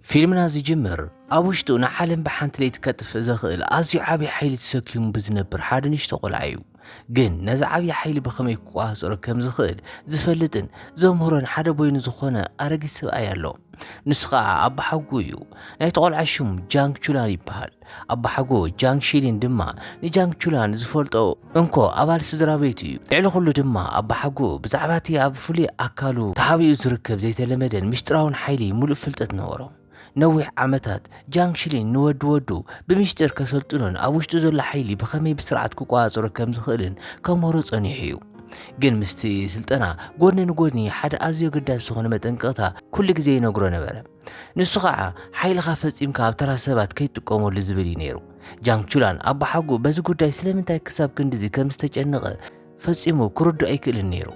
ፊልምና ዝጅምር፣ ኣብ ውሽጡ ንዓለም ብሓንቲ ለይቲ ከጥፍእ ዘኽእል ኣዝዩ ዓቢ ሓይሊ ተሰኪሙ ብዝነብር ሓደ ንእሽቶ ቆልዓ እዩ። ግን ነዚ ዓቢ ሓይሊ ብኸመይ ክቆጻጸሮ ከም ዝኽእል ዝፈልጥን ዘምህሮን ሓደ በይኑ ዝኾነ ኣረጊት ሰብኣይ ኣሎ። ንሱ ኸኣ ኣቦሓጎኡ እዩ። ናይቲ ቆልዓ ሽም ጃንግ ቹላን ይበሃል። ኣቦሓጎ ጃንግ ሺሊን ድማ ንጃንግ ቹላን ዝፈልጦ እንኮ ኣባል ስድራቤት እዩ። ልዕሊ ዅሉ ድማ ኣቦሓጎ ብዛዕባ እቲ ኣብ ፍሉይ ኣካሉ ተሓቢኡ ዝርከብ ዘይተለመደን ምስጢራውን ሓይሊ ምሉእ ፍልጠት ነበሮ። ነዊሕ ዓመታት፣ ጃንግ ሺሊን ንወዲ ወዱ ብሚስጢር ከሰልጥኖን ኣብ ውሽጡ ዘሎ ሓይሊ ብኸመይ ብስርዓት ክቆጻጸሮ ከም ዝኽእልን ከምህሮ ጸኒሑ እዩ። ግን ምስቲ ስልጠና፣ ጐድኒ ንጐድኒ ሓደ ኣዝዩ ኣገዳሲ ዝዀነ መጠንቀቕታ ኵሉ ግዜ ይነግሮ ነበረ። ንሱ ኸዓ ሓይልኻ ፈጺምካ ኣብ ተራ ሰባት ከይትጥቀመሉ ዝብል እዩ ነይሩ። ጃንግ ቹላን ኣቦሓጎኡ በዚ ጉዳይ ስለምንታይ ክሳብ ክንድዚ ከም ዝተጨነቐ ፈጺሙ ክርድኦ ኣይክእልን ነይሩ።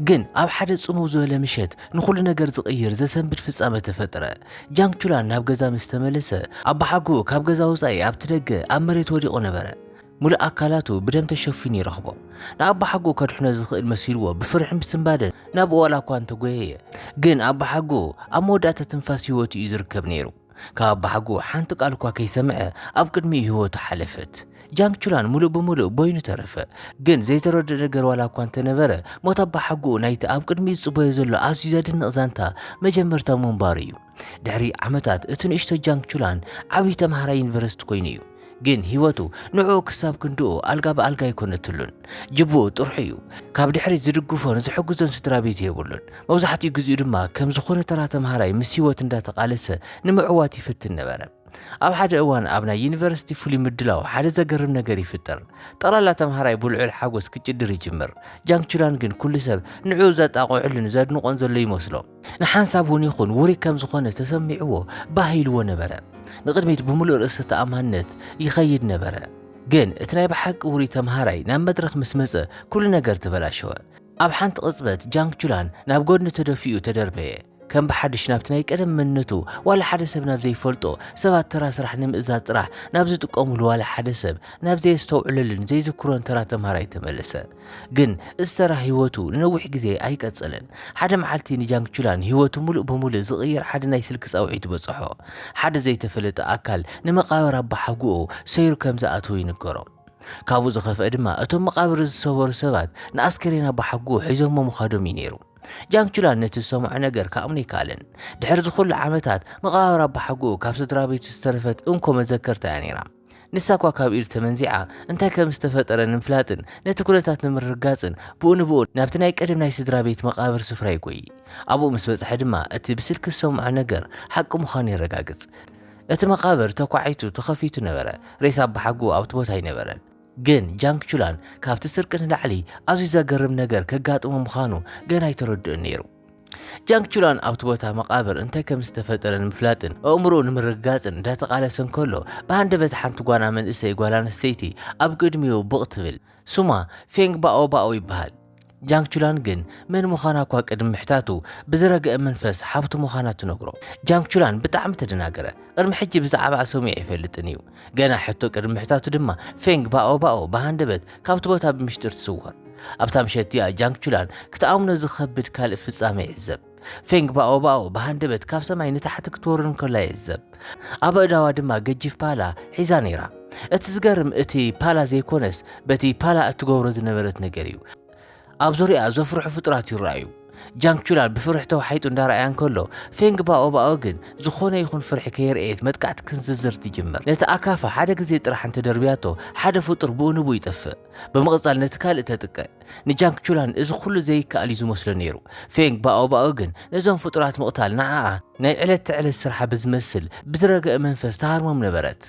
ግን ኣብ ሓደ ጽምው ዝበለ ምሸት ንኹሉ ነገር ዝቕይር ዘሰንብድ ፍጻመ ተፈጥረ። ጃንግ ቹላን ናብ ገዛ ምስ ተመለሰ ኣቦሓጎኡ ካብ ገዛ ወጻኢ ኣብቲ ደገ ኣብ መሬት ወዲቑ ነበረ። ምሉእ ኣካላቱ ብደም ተሸፊኑ ይረኽቦ። ንኣቦሓጎኡ ከድሕኖ ዝኽእል መሲልዎ ብፍርሕን ብስንባደን ናብኡ ዋላ እኳ እንተጎየየ፣ ግን ኣቦሓጎኡ ኣብ መወዳእታ ትንፋስ ህይወቱ እዩ ዝርከብ ነይሩ። ካብ ኣቦሓጎኡ ሓንቲ ቃል እኳ ከይሰምዐ ኣብ ቅድሚኡ ህይወቱ ሓለፈት። ጃንግ ቹላን ምሉእ ብምሉእ በይኑ ተረፈ። ግን ዘይተረድኦ ነገር ዋላ እኳ እንተነበረ፣ ሞት ኣቦሓጎኡ ናይቲ ኣብ ቅድሚኡ ዝጽበዮ ዘሎ ኣዝዩ ዘደንቕ ዛንታ መጀመርታ ምንባሩ እዩ። ድሕሪ ዓመታት እቲ ንእሽቶ ጃንግ ቹላን ዓብዪ ተምሃራይ ዩኒቨርሲቲ ኮይኑ እዩ። ግን ህይወቱ ንዕኡ ክሳብ ክንድኡ ኣልጋ ብኣልጋ ኣይኮነትሉን። ጅብኡ ጥርሑ እዩ። ካብ ድሕሪት ዝድግፎን ዝሕግዞን ስድራ ቤት የብሉን። መብዛሕትኡ ግዜኡ ድማ ከም ዝኾነ ተራ ተምሃራይ ምስ ህይወት እንዳተቓለሰ ንምዕዋት ይፍትን ነበረ። ኣብ ሓደ እዋን ኣብ ናይ ዩኒቨርሲቲ ፍሉይ ምድላው ሓደ ዘገርም ነገር ይፍጠር። ጠቕላላ ተምሃራይ ብልዑል ሓጎስ ክጭድር ይጅምር። ጃንግ ቹላን ግን ኩሉ ሰብ ንዕኡ ዘጣቕዑሉን ዘድንቖን ዘሎ ይመስሎ። ንሓንሳብ እውን ይኹን ውሩይ ከም ዝኾነ ተሰሚዕዎ ባህ ኢልዎ ነበረ። ንቕድሚት ብምሉእ ርእሰ ተኣማንነት ይኸይድ ነበረ። ግን እቲ ናይ ብሓቂ ውሩይ ተምሃራይ ናብ መድረኽ ምስ መጸ ኩሉ ነገር ተበላሸወ። ኣብ ሓንቲ ቅጽበት ጃንግ ቹላን ናብ ጎድኒ ተደፊኡ ተደርበየ። ከም ብሓድሽ ናብቲ ናይ ቀደም መንነቱ ዋላ ሓደ ሰብ ናብ ዘይፈልጦ፣ ሰባት ተራ ስራሕ ንምእዛዝ ጥራሕ ናብ ዝጥቀሙሉ ዋላ ሓደ ሰብ ናብ ዘየስተውዕለሉን ዘይዝክሮን ተራ ተምሃራይ ተመለሰ። ግን እስተራ ህይወቱ ንነዊሕ ግዜ ኣይቀጸለን። ሓደ መዓልቲ ንጃንግቹላን ህይወቱ ምሉእ ብምሉእ ዝቕይር ሓደ ናይ ስልኪ ጻውዒት በጽሖ። ሓደ ዘይተፈለጠ ኣካል ንመቓብር ኣቦሓጎኡ ሰይሩ ከም ዝኣተወ ይንገሮ። ካብኡ ዝኸፍአ ድማ እቶም መቓብር ዝሰበሩ ሰባት ንኣስከሬን ኣቦሓጎኡ ሒዞሞ ምዃዶም እዩ ነይሩ። ጃንግቹላን ነቲ ዝሰምዖ ነገር ክኣምኖ ኣይከኣለን። ድሕሪ እዚ ኹሉ ዓመታት መቓብር ኣቦሓጎኡ ካብ ስድራቤቱ ዝተረፈት እንኮ መዘከርታ እያ ነይራ። ንሳ እኳ ካብ ኢዱ ተመንዚዓ፣ እንታይ ከም ዝተፈጠረ ንምፍላጥን ነቲ ኩነታት ንምርግጋጽን ብኡ ንብኡ ናብቲ ናይ ቀደም ናይ ስድራ ቤት መቓብር ስፍራ ይጎይ። ኣብኡ ምስ በጽሐ ድማ እቲ ብስልኪ ዝሰምዖ ነገር ሓቂ ምዃኑ የረጋግጽ። እቲ መቓብር ተኳዒቱ ተኸፊቱ ነበረ፣ ሬሳ ኣባሓጎኡ ኣብቲ ቦታ ኣይነበረን። ግን ጃንግ ቹላን ካብቲ ስርቂ ንላዕሊ ኣዝዩ ዘገርም ነገር ከጋጥሞ ምዃኑ ገና ኣይተረድኦን ነይሩ። ጃንግ ቹላን ኣብቲ ቦታ መቓብር እንታይ ከም ዝተፈጠረ ንምፍላጥን ኣእምሮኡ ንምርግጋጽን እንዳተቓለሰ እንከሎ ብሃንደበት ሓንቲ ጓና መንእሰይ ጓል ኣንስተይቲ ኣብ ቅድሚኡ ብቕ ትብል። ስማ ፌንግ ባኦ ባኦ ይበሃል። ጃንግ ቹላን ግን መን ምዃና እኳ ቅድሚ ምሕታቱ ብዝረገአ መንፈስ ሓብቱ ምዃና ትነግሮ። ጃንግ ቹላን ብጣዕሚ ተደናገረ። ቅድሚ ሕጂ ብዛዕባኣ ሰሚዑ ኣይፈልጥን እዩ። ገና ሕቶ ቅድሚ ምሕታቱ ድማ ፌንግ ባኦ ባኦ ብሃንደበት ካብቲ ቦታ ብምሽጢር ትስወር። ኣብታ ምሸት እቲኣ ጃንግ ቹላን ክትኣምኖ ዝኸብድ ካልእ ፍጻመ ይዕዘብ። ፌንግ ባኦ ባኦ ብሃንደበት ካብ ሰማይ ንታሕቲ ክትወርድ እንከላ ይዕዘብ። ኣብ ኣእዳዋ ድማ ገጂፍ ፓላ ሒዛ ነይራ። እቲ ዝገርም እቲ ፓላ ዘይኮነስ በቲ ፓላ እትገብሮ ዝነበረት ነገር እዩ። ኣብ ዙርያኣ ዘፍርሑ ፍጡራት ይረኣዩ። ጃንግ ቹላን ብፍርሒ ተዋሒጡ እንዳረኣያ እንከሎ ፌንግ ባኦባኦ ግን ዝኾነ ይኹን ፍርሒ ከየርኤየት መጥቃዕቲ ክንዝዝር ትጅምር። ነቲ ኣካፋ ሓደ ግዜ ጥራሕ እንተደርብያቶ ሓደ ፍጡር ብኡ ንብኡ ይጠፍእ። ብምቕጻል ነቲ ካልእ ተጥቀ። ንጃንግ ቹላን እዚ ኩሉ ዘይከኣል እዩ ዝመስሎ ነይሩ። ፌንግ ባኦባኦ ግን ነዞም ፍጡራት ምቕታል ንዓኣ ናይ ዕለት ተዕለት ስርሓ ብዝመስል ብዝረገአ መንፈስ ትሃርሞም ነበረት።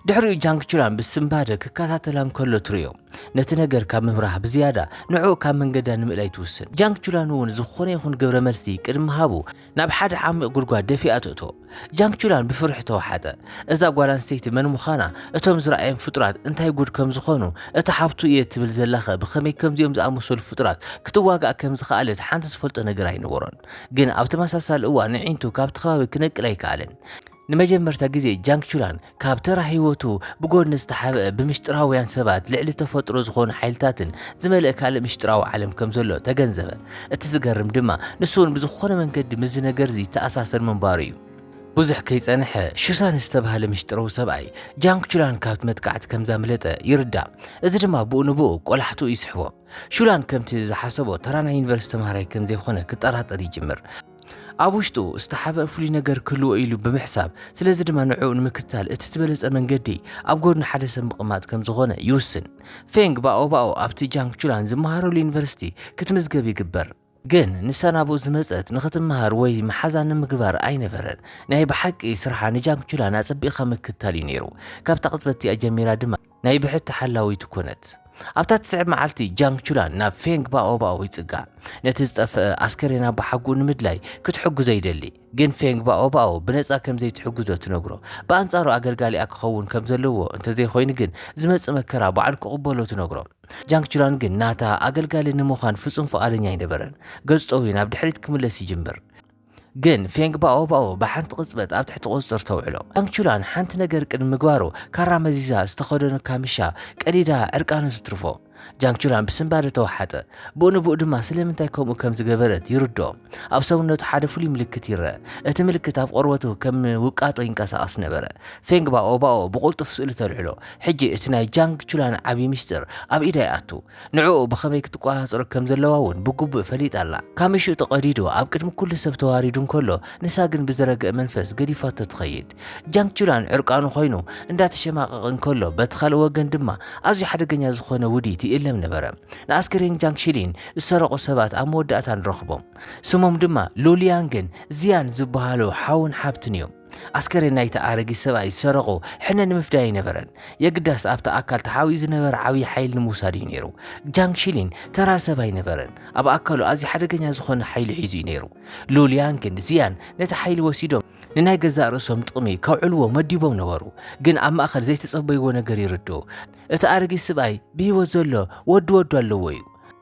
ድሕሪኡ ጃንግ ቹላን ብስንባደ ክከታተላ እንከሎ ትርእዮ። ነቲ ነገር ካብ ምብራህ ብዝያዳ ንዕኡ ካብ መንገዳ ንምእላይ ትውስን። ጃንግ ቹላን እውን ዝኾነ ይኹን ግብረ መልሲ ቅድሚ ምሃቡ ናብ ሓደ ዓሚቕ ጉድጓድ ደፊኣ ትእቶ። ጃንግ ቹላን ብፍርሒ ተዋሓጠ። እዛ ጓል ኣንስተይቲ መን ምዃና፣ እቶም ዝረኣዮም ፍጡራት እንታይ ጉድ ከም ዝኾኑ፣ እታ ሓብቱ እየ ትብል ዘላኸ ብኸመይ ከምዚኦም ዝኣመሰሉ ፍጡራት ክትዋጋእ ከም ዝኸኣለት ሓንቲ ዝፈልጦ ነገር ኣይነበሮን። ግን ኣብ ተመሳሳሊ እዋን ኣዒንቱ ካብቲ ከባቢ ክነቅል ኣይከኣለን። ንመጀመርታ ግዜ ጃንግ ቹላን ካብ ተራ ህይወቱ ብጎድኒ ዝተሓብአ ብምሽጥራውያን ሰባት ልዕሊ ተፈጥሮ ዝኾኑ ሓይልታትን ዝመልእ ካልእ ምሽጥራዊ ዓለም ከም ዘሎ ተገንዘበ። እቲ ዝገርም ድማ ንሱ እውን ብዝኾነ መንገዲ ምስዚ ነገርዚ ይተኣሳሰር ምንባሩ እዩ። ብዙሕ ከይጸንሐ ሹሳን ዝተባህለ ምሽጥረዊ ሰብኣይ ጃንግ ቹላን ካብቲ መጥቃዕቲ ከም ዛምለጠ ይርዳእ። እዚ ድማ ብኡ ንብኡ ቆላሕትኡ ይስሕቦ። ሹላን ከምቲ ዝሓሰቦ ተራ ናይ ዩኒቨርሲቲ ተምሃራይ ከም ዘይኮነ ክጠራጠር ይጅምር። ኣብ ውሽጡ ዝተሓብአ ፍሉይ ነገር ክህልዎ ኢሉ ብምሕሳብ፣ ስለዚ ድማ ንዕኡ ንምክትታል እቲ ዝበለጸ መንገዲ ኣብ ጎድኒ ሓደ ሰብ ምቕማጥ ከም ዝኾነ ይውስን። ፌንግ ባኦባኦ ኣብቲ ጃንግ ቹላን ዝመሃረሉ ዩኒቨርሲቲ ክትምዝገብ ይግበር። ግን ንሳ ናብኡ ዝመጸት ንኽትመሃር ወይ መሓዛ ንምግባር ኣይነበረን። ናይ ብሓቂ ስርሓ ንጃንግቹላን ኣጸቢቕካ ምክትታል እዩ ነይሩ። ካብታ ቅጽበት እቲኣ ጀሚራ ድማ ናይ ብሕቲ ሓላዊቱ ኮነት። ኣብታ ትስዕብ መዓልቲ ጃንግ ቹላን ናብ ፌንግ ባኦባኦ ይጽጋዕ ነቲ ዝጠፍአ ኣስከሬን ኣቦሓጉኡ ንምድላይ ክትሕግዞ ይደሊ ግን ፌንግ ባኦባኦ ብነጻ ከም ዘይትሕግዞ ትነግሮ ብኣንጻሩ ኣገልጋሊኣ ክኸውን ከም ዘለዎ እንተዘይኮይኑ ግን ዝመጽእ መከራ በዓል ክቕበሎ ትነግሮ ጃንግ ቹላን ግን ናታ ኣገልጋሊ ንምዃን ፍጹም ፍቓደኛ ኣይነበረን። ገጹ ጠውዩ ናብ ድሕሪት ክምለስ ይጅምር። ግን ፌንግ ባኦ ባኦ ብሓንቲ ቅጽበት ኣብ ትሕቲ ቁጽጽር ተውዕሎ። ጃንግ ቹላን ሓንቲ ነገር ቅድሚ ምግባሩ ካራ መዚዛ ዝተኸደኖ ካምሻ ቀዲዳ ዕርቃኑ ትትርፎ። ጃንግ ቹላን ብስንባደ ተዋሓጠ። ብኡ ንብኡ ድማ ስለምንታይ ከምኡ ከም ዝገበረት ይርድኦ። ኣብ ሰውነቱ ሓደ ፍሉይ ምልክት ይረኣ። እቲ ምልክት ኣብ ቖርበቱ ከም ውቃጦ ይንቀሳቐስ ነበረ። ፌንግ ባኦ ባኦ ብቕልጡፍ ስእሉ ተልዕሎ። ሕጂ እቲ ናይ ጃንግ ቹላን ዓቢ ምስጢር ኣብ ኢዳ ይኣቱ። ንዕኡ ብኸመይ ክትቆጻጸሮ ከም ዘለዋ'ውን ብግቡእ ፈሊጣ ኣላ። ካሚሽኡ ተቐዲዱ ኣብ ቅድሚ ኩሉ ሰብ ተዋሪዱ እንከሎ ንሳ ግን ብዝረገእ መንፈስ ገዲፋቶ ትኸይድ። ጃንግ ቹላን ዕርቃኑ ኮይኑ እንዳተሸማቐቐ እንከሎ በቲ ካልእ ወገን ድማ ኣዝዩ ሓደገኛ ዝኾነ ውዲት ይእለም ነበረ። ንኣስከሬን ጃንግ ሺሊን ዝሰረቑ ሰባት ኣብ መወዳእታ ንረኽቦም። ስሞም ድማ ሉሊያንግን ዚያን ዝበሃሉ ሓውን ሓብትን እዮም። ኣስከሬን ናይቲ ኣረጊት ሰብኣይ ዝሰረቑ ሕነ ንምፍዳይ ኣይነበረን። የግዳስ ኣብቲ ኣካል ተሓቢኡ ዝነበረ ዓብዪ ሓይሊ ንምውሳድ እዩ ነይሩ። ጃንግ ሺሊን ተራ ሰብ ኣይነበረን። ኣብ ኣካሉ ኣዝዩ ሓደገኛ ዝኾነ ሓይሊ ሒዙ እዩ ነይሩ። ሉሊያንግን ዚያን ነቲ ሓይሊ ወሲዶም ንናይ ገዛእ ርእሶም ጥቕሚ ከውዕልዎ መዲቦም ነበሩ። ግን ኣብ ማእከል ዘይተጸበይዎ ነገር ይርድኡ። እቲ ኣረጊት ስብኣይ ብህይወት ዘሎ ወዲ ወዱ ኣለዎ እዩ።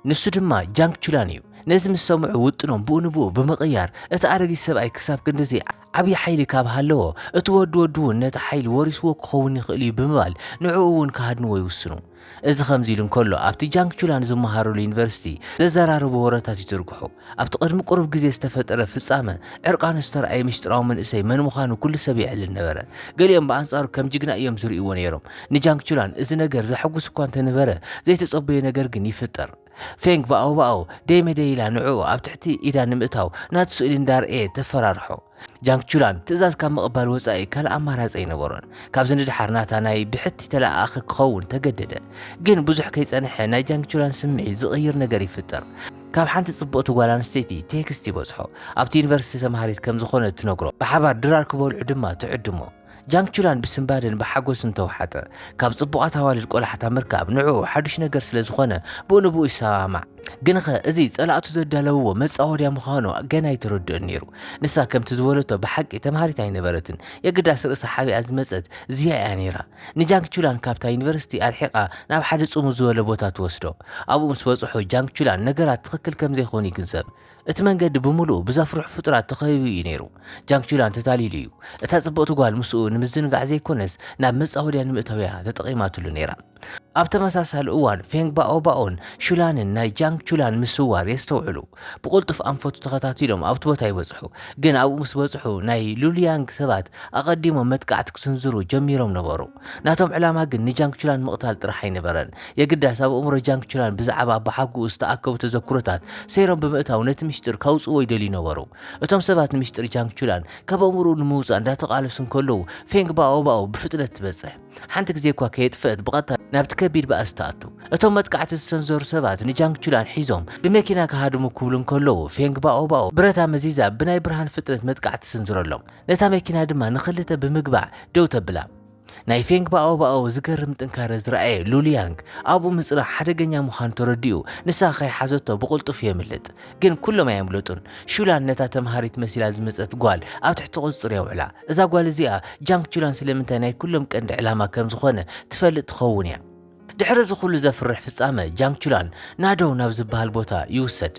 ንሱ ድማ ጃንግ ቹላን እዩ። ነዚ ምስ ሰምዑ ውጥኖም ብኡ ንብኡ ብምቕያር እቲ ኣረጊት ሰብኣይ ክሳብ ክንድዚ ዓብዪ ሓይሊ ካብ ሃለዎ እቲ ወዲ ወዱ እውን ነቲ ሓይሊ ወሪስዎ ክኸውን ይኽእል እዩ ብምባል ንዕኡ እውን ክሃድንዎ ይውስኑ። እዚ ከምዚ ኢሉ እንከሎ፣ ኣብቲ ጃንግቹላን ዝመሃሩሉ ዩኒቨርሲቲ ዘዘራርቡ ወረታት ይዝርግሑ። ኣብቲ ቅድሚ ቁሩብ ግዜ ዝተፈጠረ ፍጻመ ዕርቃኑ ዝተራእየ ምስጢራዊ መንእሰይ መን ምዃኑ ኩሉ ሰብ የዕልል ነበረ። ገሊኦም ብኣንጻሩ ከም ጅግና እዮም ዝርእይዎ ነይሮም። ንጃንግቹላን እዚ ነገር ዘሐጉስ እኳ እንተነበረ፣ ዘይተጸበዮ ነገር ግን ይፍጠር። ፌንግ ብኣውባኣው ደይ መደይ ኢላ ንዕኡ ኣብ ትሕቲ ኢዳ ንምእታው ናቱ ስእሊ እንዳርኣየ ተፈራርሖ። ጃንግ ቹላን ትእዛዝ ካብ ምቕባል ወጻኢ ካልእ ኣማራጺ ኣይነበሮን። ካብዚ ንድሓር ናታ ናይ ብሕቲ ተለኣኣኺ ክኸውን ተገደደ። ግን ብዙሕ ከይጸንሐ ናይ ጃንግ ቹላን ስምዒት ዝቕይር ነገር ይፍጠር። ካብ ሓንቲ ጽብቕቲ ጓል ኣንስተይቲ ቴክስት ይበጽሖ። ኣብቲ ዩኒቨርሲቲ ተማሃሪት ከም ዝኾነት ትነግሮ። ብሓባር ድራር ክበልዑ ድማ ትዕድሞ። ጃንግቹላን ብስንባደን ብሓጎስን ተውሓጠ። ካብ ጽቡቓት ኣዋልድ ቆላሕታ ምርካብ ንዕኡ ሓዱሽ ነገር ስለ ዝኾነ ብኡ ንብኡ ይሰማማዕ። ግንኸ እዚ ጸላእቱ ዘዳለውዎ መጻወድያ ምዃኑ ገና ኣይተረድኦን ነይሩ። ንሳ ከምቲ ዝበለቶ ብሓቂ ተምሃሪት ኣይነበረትን። የግዳስ ርእሳ ሓቢኣ ዝመጸት ዚያ'ያ ነይራ። ንጃንግቹላን ካብታ ዩኒቨርሲቲ ኣርሒቓ ናብ ሓደ ጽምው ዝበለ ቦታ ትወስዶ። ኣብኡ ምስ በጽሑ ጃንግቹላን ነገራት ትኽክል ከም ዘይኮኑ ይግንዘብ። እቲ መንገዲ ብምሉኡ ብዘፍርሑ ፍጡራት ተኸቢቡ እዩ ነይሩ። ጃንግ ቹላን ተታሊሉ እዩ። እታ ጽብቕቲ ጓል ምስኡ ንምዝንጋዕ ዘይኮነስ ናብ መጻወድያ ንምእታው እያ ተጠቒማትሉ ነይራ። ኣብ ተመሳሳሊ እዋን ፌንግ ባኦባኦን ሹላንን ናይ ጃንግ ቹላን ምስዋር የስተውዕሉ። ብቕልጡፍ ኣንፈቱ ተኸታቲሎም ኣብቲ ቦታ ይበጽሑ። ግን ኣብኡ ምስ በጽሑ ናይ ሉልያንግ ሰባት ኣቐዲሞም መጥቃዕቲ ክስንዝሩ ጀሚሮም ነበሩ። ናቶም ዕላማ ግን ንጃንግ ቹላን ምቕታል ጥራሕ ኣይነበረን። የግዳስ ኣብ ኣእምሮ ጃንግ ቹላን ብዛዕባ ኣባሓጎኡ ዝተኣከቡ ተዘክሮታት ሰይሮም ብምእታው ነቲ ምሽጢር ካውጽእዎ ይደልዩ ነበሩ። እቶም ሰባት ንምሽጢር ጃንግ ቹላን ካብ ኣእምሮኡ ንምውጻእ እንዳተቓለሱ እንከለዉ፣ ፌንግ ባኦባኦ ብፍጥነት ትበጽሕ። ሓንቲ ግዜ እኳ ከየጥፍእት ብቐጥታ ናብቲ ከቢድ ባእሲ ትኣቱ። እቶም መጥቃዕቲ ዝሰንዘሩ ሰባት ንጃንግ ቹላን ሒዞም ብመኪና ክሃድሙ ክብሉ እንከለዉ፣ ፌንግ ባኦባኦ ብረታ መዚዛ ብናይ ብርሃን ፍጥነት መጥቃዕቲ ትስንዝረሎም። ነታ መኪና ድማ ንኽልተ ብምግባዕ ደው ተብላ። ናይ ፌንግ ባኦባኦ ዝገርም ጥንካረ ዝረኣየ ሉልያንግ ኣብኡ ምጽናሕ ሓደገኛ ምዃኑ ተረዲኡ ንሳ ከይሓዘቶ ብቕልጡፍ የምልጥ ግን ኩሎም ኣየምለጡን ሹላን ነታ ተምሃሪት መሲላ ዝመጸት ጓል ኣብ ትሕቲ ቁጽጽር የውዕላ እዛ ጓል እዚኣ ጃንግ ቹላን ስለምንታይ ናይ ኩሎም ቀንዲ ዕላማ ከም ዝኾነ ትፈልጥ ትኸውን እያ ድሕሪ እዚ ኩሉ ዘፍርሕ ፍጻመ ጃንግ ቹላን ናዶው ናብ ዝበሃል ቦታ ይውሰድ።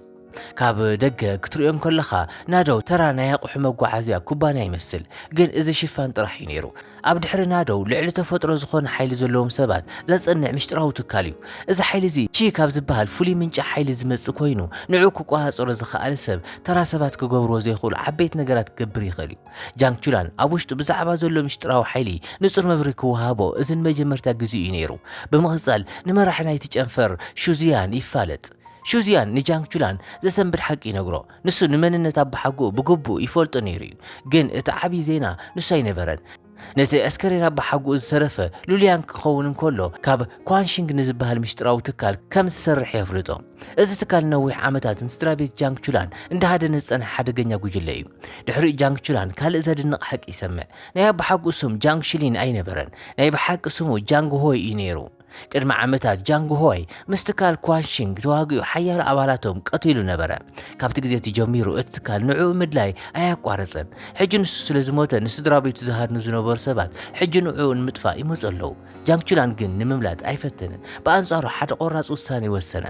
ካብ ደገ ክትርእዮ እንከለኻ ናዶው ተራ ናይ ኣቑሑ መጓዓዝያ ኩባንያ ይመስል፣ ግን እዚ ሽፋን ጥራሕ እዩ ነይሩ። ኣብ ድሕሪ ናዶው ልዕሊ ተፈጥሮ ዝኾነ ሓይሊ ዘለዎም ሰባት ዘጽንዕ ምስጢራዊ ትካል እዩ። እዚ ሓይሊ እዚ ቺ ካብ ዝበሃል ፍሉይ ምንጪ ሓይሊ ዝመጽእ ኮይኑ ንዕኡ ክቆጻጸሮ ዝኸኣለ ሰብ ተራ ሰባት ክገብርዎ ዘይኽእሉ ዓበይቲ ነገራት ክገብር ይኽእል እዩ። ጃንግ ቹላን ኣብ ውሽጡ ብዛዕባ ዘሎ ምሽጥራዊ ሓይሊ ንጹር መብሪ ክወሃቦ እዚ ንመጀመርታ ግዜኡ እዩ ነይሩ። ብምቕጻል ንመራሒ ናይቲ ጨንፈር ሹዚያን ይፋለጥ። ሹዚያን ንጃንግ ቹላን ዘሰንብድ ሓቂ ይነግሮ። ንሱ ንመንነት ኣባሓጎኡ ብግቡእ ይፈልጦ ነይሩ እዩ። ግን እቲ ዓቢ ዜና ንሱ ኣይነበረን። ነቲ ኣስከሬን ኣባሓጎኡ ዝተረፈ ሉሊያንግ ክኸውን እንከሎ ካብ ኳንሺንግ ንዝበሃል ምሽጥራዊ ትካል ከም ዝሰርሕ የፍልጦ። እዚ ትካል ነዊሕ ዓመታት ንስድራ ቤት ጃንግ ቹላን እንዳሃደነ ዝጸንሐ ሓደገኛ ጉጅለ እዩ። ድሕሪኡ ጃንግ ቹላን ካልእ ዘድንቕ ሓቂ ይሰምዕ። ናይ ኣቦሓጎኡ ስም ጃንግ ሽሊን ኣይነበረን፣ ናይ ብሓቂ ስሙ ጃንግ ሆይ እዩ ነይሩ። ቅድሚ ዓመታት ጃንግ ሆይ ምስ ትካል ኳንሺንግ ተዋጊኡ ሓያሎ ኣባላቶም ቀቲሉ ነበረ። ካብቲ ግዜ እቲ ጀሚሩ እቲ ትካል ንዕኡ ምድላይ ኣያቋረጸን። ሕጂ ንሱ ስለ ዝሞተ ንስድራ ቤቱ ዝሃድኑ ዝነበሩ ሰባት ሕጂ ንዕኡ ንምጥፋእ ይመጹ ኣለዉ። ጃንግ ቹላን ግን ንምምላጥ ኣይፈተነን። ብኣንጻሩ ሓደ ቆራጽ ውሳኔ ወሰነ።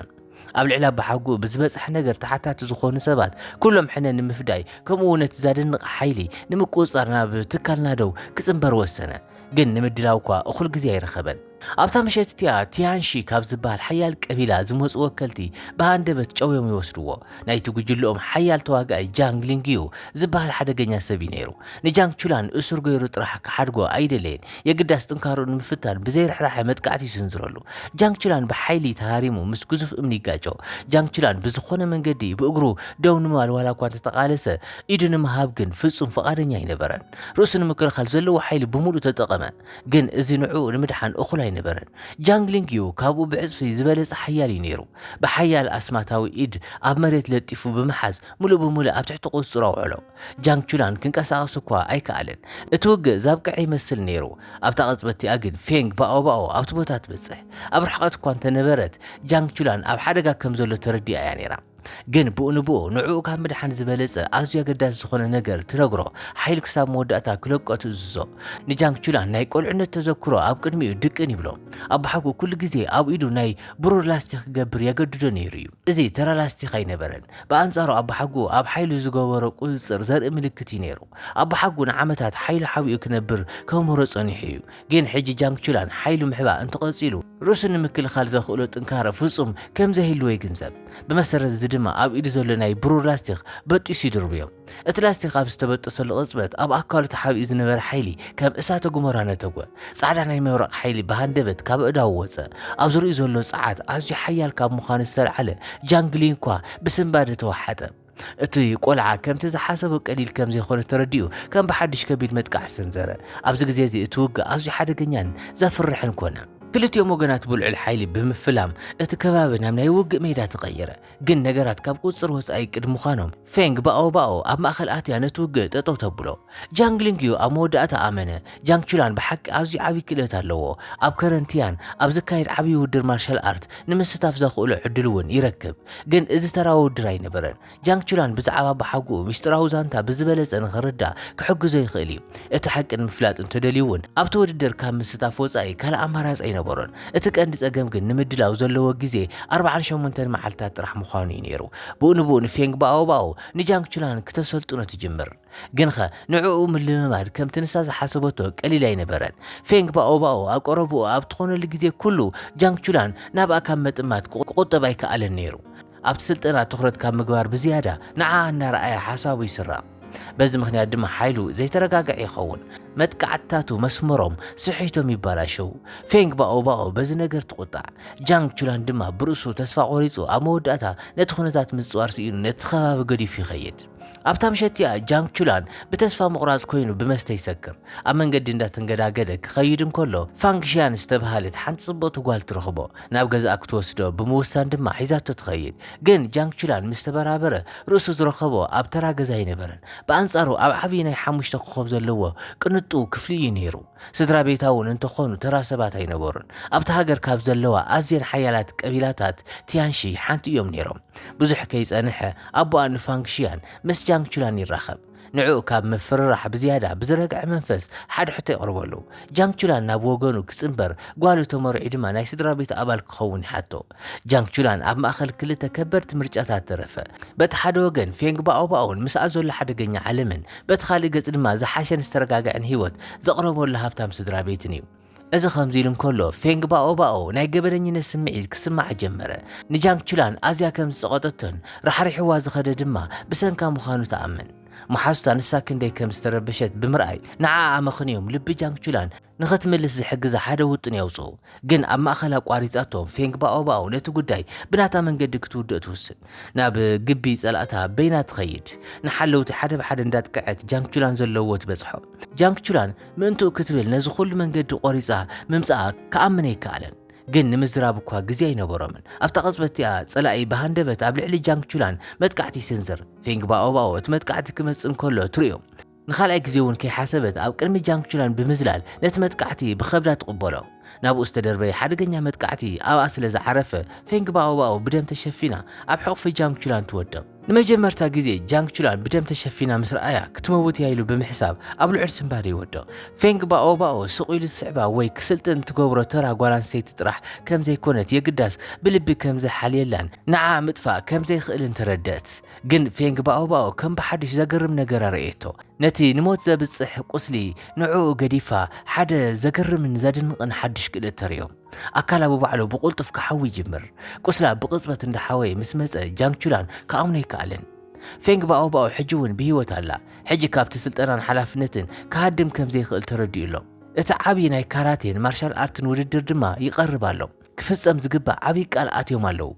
ኣብ ልዕሊ ኣባሓጎኡ ብዝበጽሐ ነገር ተሓታቲ ዝኾኑ ሰባት ኩሎም ሕነ ንምፍዳይ ከምኡ እውን እቲ ዛደንቕ ሓይሊ ንምቁጽጻር ናብ ትካል ናደው ክጽንበር ወሰነ። ግን ንምድላው እኳ እኹል ግዜ ኣይረኸበን። ኣብታ ምሸት እቲኣ ቲያንሺ ካብ ዝበሃል ሓያል ቀቢላ ዝመጹ ወከልቲ ብሃንደበት ጨውዮም ይወስድዎ። ናይቲ ጉጅለኦም ሓያል ተዋጋኣይ ጃንግ ሊንግዩ ዝበሃል ሓደገኛ ሰብ እዩ ነይሩ። ንጃንግ ቹላን እሱር ገይሩ ጥራሕ ክሓድጎ ኣይደለየን፣ የግዳስ ጥንካርኡ ንምፍታን ብዘይ ርሕራሐ መጥቃዕቲ ይስንዝረሉ። ጃንግ ቹላን ብሓይሊ ተሃሪሙ ምስ ግዙፍ እምኒ ይጋጮ። ጃንግ ቹላን ብዝኾነ መንገዲ ብእግሩ ደው ንምባል ዋላኳ እንተተቓለሰ፣ ኢዱ ንምሃብ ግን ፍጹም ፍቓደኛ ኣይነበረን። ርእሱ ንምክልኻል ዘለዎ ሓይሊ ብምሉኡ ተጠቐመ። ግን እዚ ንዕኡ ንምድሓን እኹል ኣይነበረን። ጃንግሊንግ ዩ ካብኡ ብዕጽፊ ዝበለጸ ሓያል እዩ ነይሩ። ብሓያል ኣስማታዊ ኢድ ኣብ መሬት ለጢፉ ብምሓዝ ምሉእ ብምሉእ ኣብ ትሕቲ ቁጽጽሩ ኣውዐሎ። ጃንግ ቹላን ክንቀሳቐስ እኳ ኣይከኣለን። እቲ ውግእ ዛብቀዐ ይመስል ነይሩ። ኣብታ ቅጽበት እቲኣ ግን ፌንግ ባኦ ባኦ ኣብቲ ቦታ ትበጽሕ። ኣብ ርሕቐት እኳ እንተነበረት ጃንግ ቹላን ኣብ ሓደጋ ከም ዘሎ ተረዲኣ እያ ነይራ። ግን ብኡ ንብኡ ንዕኡ ካብ ምድሓን ዝበለጸ ኣዝዩ ኣገዳሲ ዝኾነ ነገር ትነግሮ፣ ሓይሉ ክሳብ መወዳእታ ክለቆ ትእዝዞ። ንጃንግ ቹላን ናይ ቈልዕነት ተዘክሮ ኣብ ቅድሚኡ ድቅን ይብሎ። ኣቦሓጎ ኩሉ ግዜ ኣብ ኢዱ ናይ ብሩር ላስቲኽ ክገብር የገድዶ ነይሩ እዩ። እዚ ተራ ላስቲኽ ኣይነበረን። ብኣንጻሩ ኣቦሓጎ ኣብ ሓይሉ ዝገበሮ ቁጽጽር ዘርኢ ምልክት እዩ ነይሩ። ኣቦሓጎ ንዓመታት ሓይሉ ሓቢኡ ክነብር ከምህሮ ጸኒሑ እዩ። ግን ሕጂ ጃንግ ቹላን ሓይሉ ምሕባእ እንተቐጺሉ ርእሱ ንምክልኻል ዘኽእሎ ጥንካረ ፍጹም ከም ዘይህልዎ ይግንዘብ። ብመሰረት እዚ ድማ ኣብ ኢዱ ዘሎ ናይ ብሩር ላስቲክ በጢሱ ይድርብዮ። እቲ ላስቲክ ኣብ ዝተበጠሰሉ ቅጽበት ኣብ ኣካሉ ተሓቢኡ ዝነበረ ሓይሊ ከም እሳተ ጉመራ ነተጐ። ጻዕዳ ናይ መብረቕ ሓይሊ ብሃንደበት ካብ ኣእዳዉ ወጸ። ኣብ ዙርያኡ ዘሎ ጸዓት ኣዝዩ ሓያል ካብ ምዃኑ ዝተላዕለ ጃንግ ሊንግኳ ብስንባደ ተወሓጠ። እቲ ቆልዓ ከምቲ ዝሓሰቦ ቀሊል ከም ዘይኮነ ተረዲኡ ከም ብሓድሽ ከቢድ መጥቃዕቲ ሰንዘረ። ኣብዚ ግዜ እዚ እቲ ውግእ ኣዝዩ ሓደገኛን ዘፍርሕን ኮነ። ክልቲኦም ወገናት ብልዑል ሓይሊ ብምፍላም እቲ ከባቢ ናብ ናይ ውግእ ሜዳ ተቐየረ። ግን ነገራት ካብ ቁጽጽር ወጻኢ ቅድሚ ምዃኖም፣ ፌንግ ባኦ ባኦ ኣብ ማእከል ኣትያ ነቲ ውግእ ጠጠው ተብሎ። ጃንግ ሊንግዩ ኣብ መወዳእታ ኣመነ፣ ጃንግ ቹላን ብሓቂ ኣዝዩ ዓቢ ክእለት ኣለዎ። ኣብ ከረንቲያን ኣብ ዝካየድ ዓቢ ውድድር ማርሻል ኣርት ንምስታፍ ዘኽእሎ ዕድል እውን ይረክብ። ግን እዚ ተራ ውድድር ኣይነበረን። ጃንግ ቹላን ብዛዕባ ኣቦሓጎኡ ምስጢራዊ ዛንታ ብዝበለጸ ንኽርዳእ ክሕግዞ ይኽእል እዩ። እቲ ሓቂ ንምፍላጥ እንተደልዩ እውን ኣብቲ ውድድር ካብ ምስታፍ ወጻኢ ካልእ ኣማራጺ ኣይነበሮን። እቲ ቀንዲ ጸገም ግን ንምድላው ዘለዎ ግዜ ኣርብዓን ሸሞንተን መዓልታት ጥራሕ ምዃኑ እዩ ነይሩ። ብኡንብኡ ንፌንግ ባኦባኦ ንጃንግ ቹላን ክተሰልጥኖ ትጅምር። ግንኸ ንዕኡ ምልምማድ ከምቲ ንሳ ዝሓሰበቶ ቀሊል ኣይነበረን። ፌንግ ባኦባኦ ኣብ ቀረብኡ ኣብ ትኾነሉ ግዜ ኩሉ፣ ጃንግ ቹላን ናብኣ ካብ ምጥማት ክቑጠብ ኣይከኣለን ነይሩ። ኣብቲ ስልጠና ትኹረት ካብ ምግባር ብዝያዳ ንዓኣ እናረኣየ ሓሳቡ ይስረቕ። በዚ ምኽንያት ድማ ሓይሉ ዘይተረጋግዐ ይኸውን። መጥቃዕትታቱ መስመሮም ስሒቶም ይበላሸዉ። ፌንግ ባኦባኦ በዚ ነገር ትቑጣዕ። ጃንግ ቹላን ድማ ብርእሱ ተስፋ ቆሪጹ ኣብ መወዳእታ ነቲ ኩነታት ምጽዋር ስኢኑ ነቲ ከባቢ ገዲፉ ይኸይድ። ኣብታ ምሸት እቲኣ ጃንግ ቹላን ብተስፋ ምቑራጽ ኮይኑ ብመስተ ይሰክር። ኣብ መንገዲ እንዳተንገዳገደ ክኸይድ እንከሎ ፋንግ ሺያን ዝተብሃለት ሓንቲ ጽብቕቲ ጓል ትረኽቦ። ናብ ገዛኣ ክትወስዶ ብምውሳን ድማ ሒዛቶ ትኸይድ። ግን ጃንግ ቹላን ምስ ተበራበረ ርእሱ ዝረኸቦ ኣብ ተራ ገዛ ኣይነበረን። ብኣንጻሩ ኣብ ዓቢ ናይ ሓሙሽተ ኮኾብ ዘለዎ ቅንጡ ክፍሊ እዩ ነይሩ። ስድራቤታውን እንተኾኑ ተራ ሰባት ኣይነበሩን። ኣብታ ሃገር ካብ ዘለዋ ኣዝየን ሓያላት ቀቢላታት ቲያንሺ ሓንቲ እዮም ነይሮም። ብዙሕ ከይጸንሐ፣ ኣቦኣ ንፋንግ ሺያን ምስ ጃንግ ቹላን ይራኸብ። ንዕኡ ካብ ምፍርራሕ ብዝያዳ ብዝረግዐ መንፈስ ሓደ ሕቶ የቕርበሉ። ጃንግ ቹላን ናብ ወገኑ ክጽንበር፣ ጓሉ ተመርዕዩ ድማ ናይ ስድራቤቱ ኣባል ክኸውን ይሓቶ። ጃንግ ቹላን ኣብ ማእከል ክልተ ከበድቲ ምርጫታት ተረፈ። በቲ ሓደ ወገን ፌንግ ባኦባኦን ምስኣ ዘሎ ሓደገኛ ዓለምን፣ በቲ ካልእ ገጽ ድማ ዝሓሸን ዝተረጋግዐን ህይወት ዘቕረበሉ ሃብታም ስድራቤትን እዩ። እዚ ከምዚ ኢሉ እንከሎ፣ ፌንግ ባኦባኦ ናይ ገበነኝነት ስምዒት ክስምዓ ጀመረ። ንጃንግ ቹላን ኣዝያ ከም ዝጸቐጠቶን ራሕሪሕዋ ዝኸደ ድማ ብሰንካ ምዃኑ ትኣምን። መሓዙታ ንሳ ክንደይ ከም ዝተረበሸት ብምርኣይ ንዓኣ ኣመኽንዮም ልቢ ጃንግ ቹላን ንኸትምልስ ዝሕግዛ ሓደ ውጥን የውጽኡ። ግን ኣብ ማእከል ኣቋሪጻቶ፣ ፌንግ ባኦባኦ ነቲ ጉዳይ ብናታ መንገዲ ክትውድእ ትውስን። ናብ ግቢ ጸላእታ በይና ትኸይድ። ንሓለውቲ ሓደ ብሓደ እንዳጥቅዐት ጃንግ ቹላን ዘለዎ ትበጽሖም። ጃንግ ቹላን ምእንትኡ ክትብል ነዚ ኩሉ መንገዲ ቆሪጻ ምምጻኣ ክኣምን ኣይከኣለን። ግን ንምዝራብ እኳ ግዜ ኣይነበሮምን። ኣብታ ቅጽበት እቲኣ ጸላኢ ብሃንደበት ኣብ ልዕሊ ጃንግ ቹላን መጥቃዕቲ ይስንዝር። ፌንግ ባኦባኦ እቲ መጥቃዕቲ ክመጽእ እንከሎ ትርእዮ። ንኻልኣይ ግዜ እውን ከይሓሰበት ኣብ ቅድሚ ጃንግቹላን ብምዝላል ነቲ መጥቃዕቲ ብኸብዳ ትቕበሎ። ናብኡ ዝተደርበየ ሓደገኛ መጥቃዕቲ ኣብኣ ስለ ዝዓረፈ፣ ፌንግ ባኦባኦ ብደም ተሸፊና ኣብ ሕቝፊ ጃንግቹላን ትወድቕ። ንመጀመርታ ግዜ ጃንግቹላን ብደም ተሸፊና ምስ ረኣያ፣ ክትመውት እያ ኢሉ ብምሕሳብ ኣብ ልዑል ስንባደ ይወድቕ። ፌንግ ባኦባኦ ስቕ ኢሉ ዝስዕባ ወይ ክስልጥን እትገብሮ ተራ ጓል ኣንስተይቲ ጥራሕ ከም ዘይኰነት የግዳስ ብልቢ ከም ዝሓልየላን ንዓኣ ምጥፋእ ከም ዘይክእልን ተረድእት። ግን ፌንግ ባኦባኦ ከም ብሓድሽ ዘገርም ነገር ኣርእየቶ። ነቲ ንሞት ዘብጽሕ ቁስሊ ንዕኡ ገዲፋ ሓደ ዘገርምን ዘድንቕን ሓድሽ ክእለት ተርእዮ። ኣካላ ብባዕሉ ብቑልጡፍ ክሓዊ ይጅምር። ቁስላ ብቕጽበት እንዳሓወየ ምስ መጸ ጃንግቹላን ክኣምኖ ኣይከኣለን። ፌንግ ባኦባኦ ሕጂ እውን ብህይወት ኣላ። ሕጂ ካብቲ ስልጠናን ሓላፍነትን ክሃድም ከም ዘይክእል ተረዲኡ ኣሎ። እቲ ዓቢ ናይ ካራቴን ማርሻል ኣርትን ውድድር ድማ ይቐርብ ኣሎ። ክፍጸም ዝግባእ ዓብዪ ቃል ኣትዮም ኣለዉ።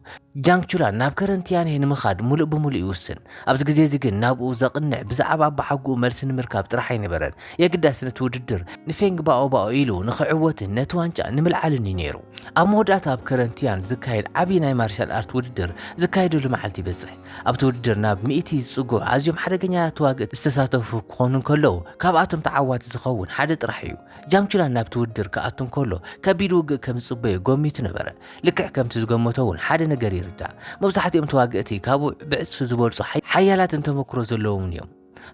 ጃንግ ቹላን ናብ ከረን ቲያንሄ ንምኻድ ምሉእ ብምሉእ ይውስን። ኣብዚ ግዜ'ዚ ግን ናብኡ ዘቕንዕ ብዛዕባ ኣባሓጎኡ መልሲ ንምርካብ ጥራሕ ኣይነበረን። የግዳስ ነቲ ውድድር ንፌንግ ባኦባኦ ኢሉ ንኽዕወትን ነቲ ዋንጫ ንምልዓልን'ዩ ነይሩ። ኣብ መወዳእታ ኣብ ከረን ቲያን ዝካየድ ዓብዪ ናይ ማርሻል ኣርት ውድድር ዝካየደሉ መዓልቲ ይበጽሕ። ኣብቲ ውድድር ናብ ሚእቲ ዝጽግዑ ኣዝዮም ሓደገኛታት ተዋግእቲ ዝተሳተፉ ክኾኑ እንከለዉ፣ ካብኣቶም ተዓዋቲ ዝኸውን ሓደ ጥራሕ'ዩ። ጃንግ ቹላን ናብቲ ውድድር ክኣቱ እንከሎ ከቢድ ውግእ ከም ዝጽበዮ ገሚቱ ነበረ። ልክዕ ከምቲ ዝገመቶ እውን ሓደ ነገር ይርዳእ፣ መብዛሕትኦም ተዋገእቲ ካብኡ ብዕጽፊ ዝበልጹ ሓያላትን ተመክሮ ዘለዎምን እዮም።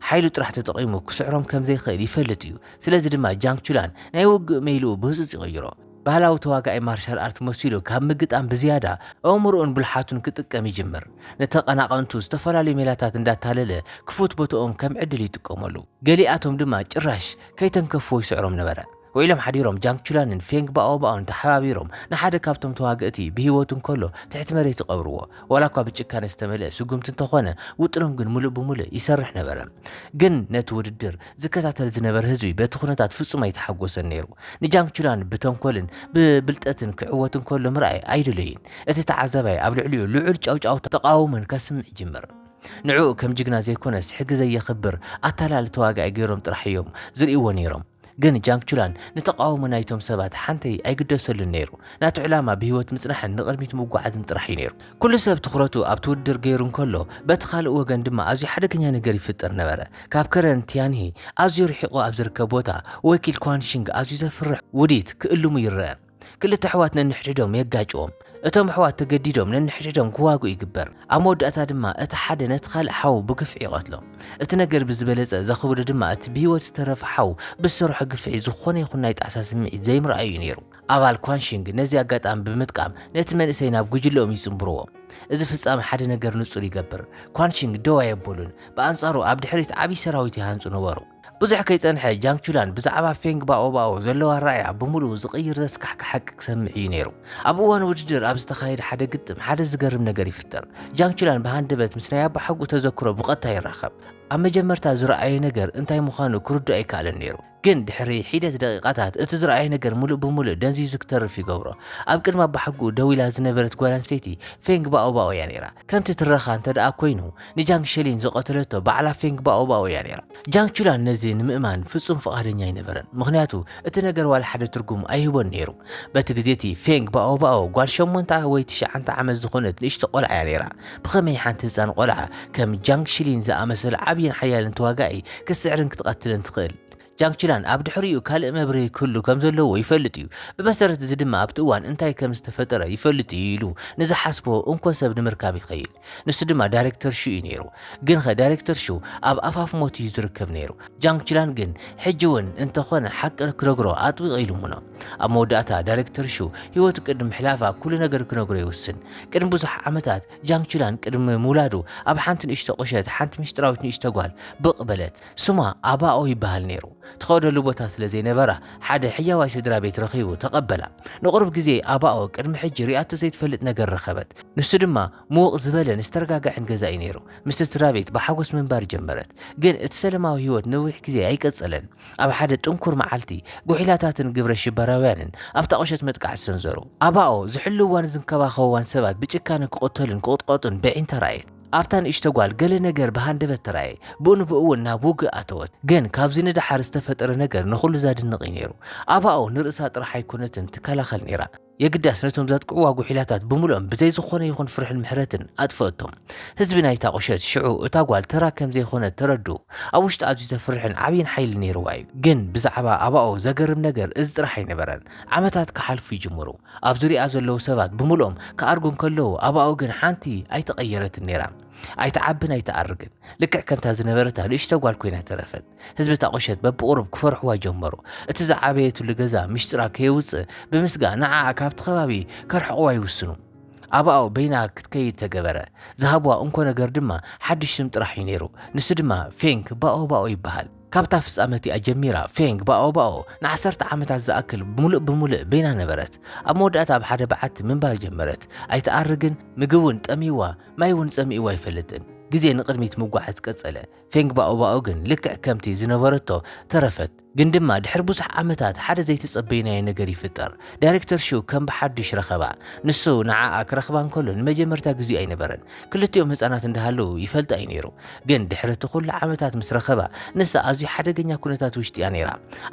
ሓይሉ ጥራሕ ተጠቒሙ ክስዕሮም ከም ዘይክእል ይፈልጥ እዩ፣ ስለዚ ድማ ጃንግ ቹላን ናይ ውግእ መይልኡ ብህጹጽ ይቕይሮ። ባህላዊ ተዋጋኢ ማርሻል ኣርት መሲሉ ካብ ምግጣም ብዝያዳ ኣእምሮኡን ብልሓቱን ክጥቀም ይጅምር። ንተቐናቐንቱ ዝተፈላለዩ ሜላታት እንዳታለለ ክፉት ቦታኦም ከም ዕድል ይጥቀመሉ፣ ገሊኣቶም ድማ ጭራሽ ከይተንከፎ ይስዕሮም ነበረ። ውዒሎም ሓዲሮም ጃንግ ቹላንን ፌንግ ባኦባኦን ተሓባቢሮም ንሓደ ካብቶም ተዋግእቲ ብህይወቱ እንከሎ ትሕቲ መሬት ይቐብርዎ። ዋላ እኳ ብጭካነ ዝተመልአ ስጉምቲ እንተኾነ ውጥኖም ግን ምሉእ ብምሉእ ይሰርሕ ነበረ። ግን ነቲ ውድድር ዝከታተል ዝነበረ ህዝቢ በቲ ኩነታት ፍጹም ኣይተሓጎሰን ነይሩ። ንጃንግ ቹላን ብተንኮልን ብብልጠትን ክዕወት እንከሎ ምርኣይ ኣይደለዩን። እቲ ተዓዛባይ ኣብ ልዕሊኡ ልዑል ጫውጫውታን ተቓውሞን ከስምዕ ይጅምር። ንዕኡ ከም ጅግና ዘይኮነስ ሕጊ ዘየኽብር ኣታላሊ ተዋጋኢ ገይሮም ጥራሕ እዮም ዝርእይዎ ነይሮም። ግን ጃንግ ቹላን ንተቓውሞ ናይቶም ሰባት ሓንተይ ኣይግደሰሉን ነይሩ። ናቱ ዕላማ ብህይወት ምጽናሕን ንቕድሚት ምጉዓዝን ጥራሕ እዩ ነይሩ። ኩሉ ሰብ ትኹረቱ ኣብቲ ውድድር ገይሩ እንከሎ፣ በቲ ካልእ ወገን ድማ ኣዝዩ ሓደገኛ ነገር ይፍጠር ነበረ። ካብ ከረን ቲያንሂ ኣዝዩ ርሒቑ ኣብ ዝርከብ ቦታ፣ ወኪል ኳን ሺንግ ኣዝዩ ዘፍርሕ ውዲት ክእልሙ ይረኣ። ክልተ ኣሕዋት ነንሕድሕዶም የጋጭዎም። እቶም ኣሕዋት ተገዲዶም ነንሕድሕዶም ክዋግኡ ይግበር። ኣብ መወዳእታ ድማ እቲ ሓደ ነቲ ካልእ ሓው ብግፍዒ ይቐትሎ። እቲ ነገር ብዝበለጸ ዘኽብዶ ድማ እቲ ብህይወት ዝተረፈ ሓው ብዝሰርሖ ግፍዒ ዝኾነ ይኹን ናይ ጣዕሳ ስምዒት ዘይምርኣዩ እዩ ነይሩ። ኣባል ኳንሺንግ ነዚ ኣጋጣሚ ብምጥቃም ነቲ መንእሰይ ናብ ጉጅለኦም ይጽንብርዎ። እዚ ፍጻመ ሓደ ነገር ንጹር ይገብር፣ ኳንሺንግ ደው ኣየበሉን፣ ብኣንጻሩ ኣብ ድሕሪት ዓብዪ ሰራዊት ይሃንጹ ነበሩ። ብዙሕ ከይጸንሐ ጃንግ ቹላን ብዛዕባ ፌንግ ባኦባኦ ዘለዎ ኣረኣእያ ብምሉኡ ዝቕይር ዘስካሕክሕ ሓቂ ክሰምዕ እዩ ነይሩ። ኣብ እዋን ውድድር ኣብ ዝተኻየደ ሓደ ግጥም ሓደ ዝገርም ነገር ይፍጠር። ጃንግ ቹላን ብሃንደበት ምስ ናይ ኣባሓጎኡ ተዘክሮ ብቐጥታ ይራኸብ። ኣብ መጀመርታ ዝረኣዮ ነገር እንታይ ምዃኑ ክርድኦ ኣይከኣለን ነይሩ። ግን ድሕሪ ሒደት ደቒቓታት እቲ ዝረኣዮ ነገር ምሉእ ብምሉእ ደንዚዙ ክተርፍ ይገብሮ። ኣብ ቅድሚ ኣባሓጎኡ ደው ኢላ ዝነበረት ጓል ኣንስተይቲ ፌንግ ባኦባኦ እያ ነይራ። ከምቲ ትረኻ እንተደኣ ኰይኑ ንጃንግ ሸሊን ዝቐተለቶ ባዕላ ፌንግ ባኦባኦ እያ ነይራ። ጃንግ ቹላን ነዚ ንምእማን ፍጹም ፍቓደኛ ኣይነበረን፣ ምኽንያቱ እቲ ነገር ዋላ ሓደ ትርጉም ኣይህቦን ነይሩ። በቲ ግዜ እቲ ፌንግ ባኦባኦ ጓል ሸሞንተ ወይ ትሽዓንተ ዓመት ዝዀነት ንእሽቶ ቈልዓ እያ ነይራ። ብኸመይ ሓንቲ ህጻን ቈልዓ ከም ጃንግ ሸሊን ዝኣመሰለ ዓብይን ሓያልን ተዋጋኢ ክትስዕርን ክትቐትልን ትኽእል? ጃንግ ቹላን ኣብ ድሕሪኡ ካልእ መብርሂ ክህሉ ከም ዘለዎ ይፈልጥ እዩ፣ ብመሰረት እዚ ድማ ኣብቲ እዋን እንታይ ከም ዝተፈጠረ ይፈልጥ እዩ ኢሉ ንዝሓስቦ እንኮ ሰብ ንምርካብ ይኸይድ። ንሱ ድማ ዳይሬክተር ሹ እዩ ነይሩ። ግንኸ ዳይሬክተር ሹ ኣብ ኣፋፍ ሞት እዩ ዝርከብ ነይሩ። ጃንግ ችላን ግን ሕጂ እውን እንተኾነ ሓቂ ክነግሮ ኣጥቢቑ ይልምኖ። ኣብ መወዳእታ ዳይሬክተር ሹ ህይወቱ ቅድሚ ምሕላፋ ኩሉ ነገር ክነግሮ ይውስን። ቅድሚ ብዙሕ ዓመታት ጃንግ ችላን ቅድሚ ምውላዱ ኣብ ሓንቲ ንእሽቶ ቁሸት ሓንቲ ምስጢራዊት ንእሽቶ ጓል ብቕ በለት። ስማ ኣባኦ ይበሃል ነይሩ። ትኸደሉ ቦታ ስለ ዘይነበራ ሓደ ሕያዋይ ስድራ ቤት ረኺቡ ተቐበላ። ንቑሩብ ግዜ ኣባኦ ቅድሚ ሕጂ ሪኣቶ ዘይትፈልጥ ነገር ረኸበት። ንሱ ድማ ምውቕ ዝበለን ዝተረጋግዐን ገዛ እዩ ነይሩ። ምስቲ ስድራቤት ብሓጎስ ምንባር ጀመረት። ግን እቲ ሰለማዊ ህይወት ነዊሕ ግዜ ኣይቀጸለን። ኣብ ሓደ ጥንኩር መዓልቲ፣ ጕሒላታትን ግብረ ሽበራውያንን ኣብታ ቍሸት መጥቃዕቲ ሰንዘሩ። ኣባኦ ዝሕልውዋን ዝንከባኸብዋን ሰባት ብጭካነ ክቕተሉን ክቕጥቀጡን ብዒንታ ረኣየት። ኣብታ ንእሽቶ ጓል ገለ ነገር ብሃንደበት ተራእየ፣ ብኡ ንብኡ'ውን ናብ ውግእ ኣተወት። ግን ካብዚ ንደሓር ዝተፈጠረ ነገር ንዅሉ ዛድንቕ እዩ ነይሩ። ኣባኦ ንርእሳ ጥራሕ ኣይኰነትን ትከላኸል ነይራ። የግዳስ ነቶም ዘጥቅዕዋ ጉሒላታት ብምሉኦም ብዘይ ዝኾነ ይኹን ፍርሕን ምሕረትን ኣጥፈእቶም። ህዝቢ ናይታ ቁሸት ሽዑ እታ ጓል ተራ ከም ዘይኮነት ተረድኡ። ኣብ ውሽጣ ኣዝዩ ዘፍርሕን ዓብይን ሓይሊ ነይርዋ እዩ። ግን ብዛዕባ ኣባኡ ዘገርም ነገር እዚ ጥራሕ ኣይነበረን። ዓመታት ክሓልፉ ይጅምሩ። ኣብ ዙርያኣ ዘለዉ ሰባት ብምሉኦም ክኣርጉ እንከለዉ ኣባኡ ግን ሓንቲ ኣይተቐየረትን ነይራ። ኣይትዓብን ኣይትኣርግን። ልክዕ ከምታ ዝነበረታ ንእሽቶ ጓል ኮይና ተረፈት። ህዝቢ እታ ቁሸት በብቑሩብ ክፈርሕዋ ጀመሩ። እቲ ዝዓበየትሉ ገዛ ምሽጥራ ከየውጽእ ብምስጋእ ንዓኣ ካብቲ ከባቢ ከርሕቕዋ ይውስኑ። ኣብኣኡ በይና ክትከይድ ተገበረ። ዝሃብዋ እንኮ ነገር ድማ ሓድሽ ስም ጥራሕ እዩ ነይሩ። ንሱ ድማ ፌንግ ባኦ ባኦ ይበሃል። ካብታ ፍጻመ እቲኣ ጀሚራ ፌንግ ባኦ ባኦ ንዓሰርተ ዓመታት ዝኣክል ምሉእ ብምሉእ በይና ነበረት። ኣብ መወዳእታ ኣብ ሓደ በዓቲ ምንባር ጀመረት። ኣይትኣርግን፣ ምግቢ እውን ጠምዩዋ፣ ማይ እውን ጸሚኡዋ ኣይፈልጥን። ግዜ ንቕድሚት ምጉዓዝ ቀጸለ። ፌንግ ባኦባኦ ግን ልክዕ ከምቲ ዝነበረቶ ተረፈት። ግን ድማ ድሕሪ ብዙሕ ዓመታት ሓደ ዘይተጸበይናዮ ነገር ይፍጠር። ዳይረክተር ሹ ከም ብሓዱሽ ረኸባ። ንሱ ንዓኣ ክረኽባ እንከሎ ንመጀመርታ ግዜኡ ኣይነበረን። ክልቲኦም ህጻናት እንዳሃለዉ ይፈልጣ እዩ ነይሩ። ግን ድሕሪ እቲ ኩሉ ዓመታት ምስ ረኸባ ንሳ ኣዝዩ ሓደገኛ ኩነታት ውሽጢ እያ ነይራ።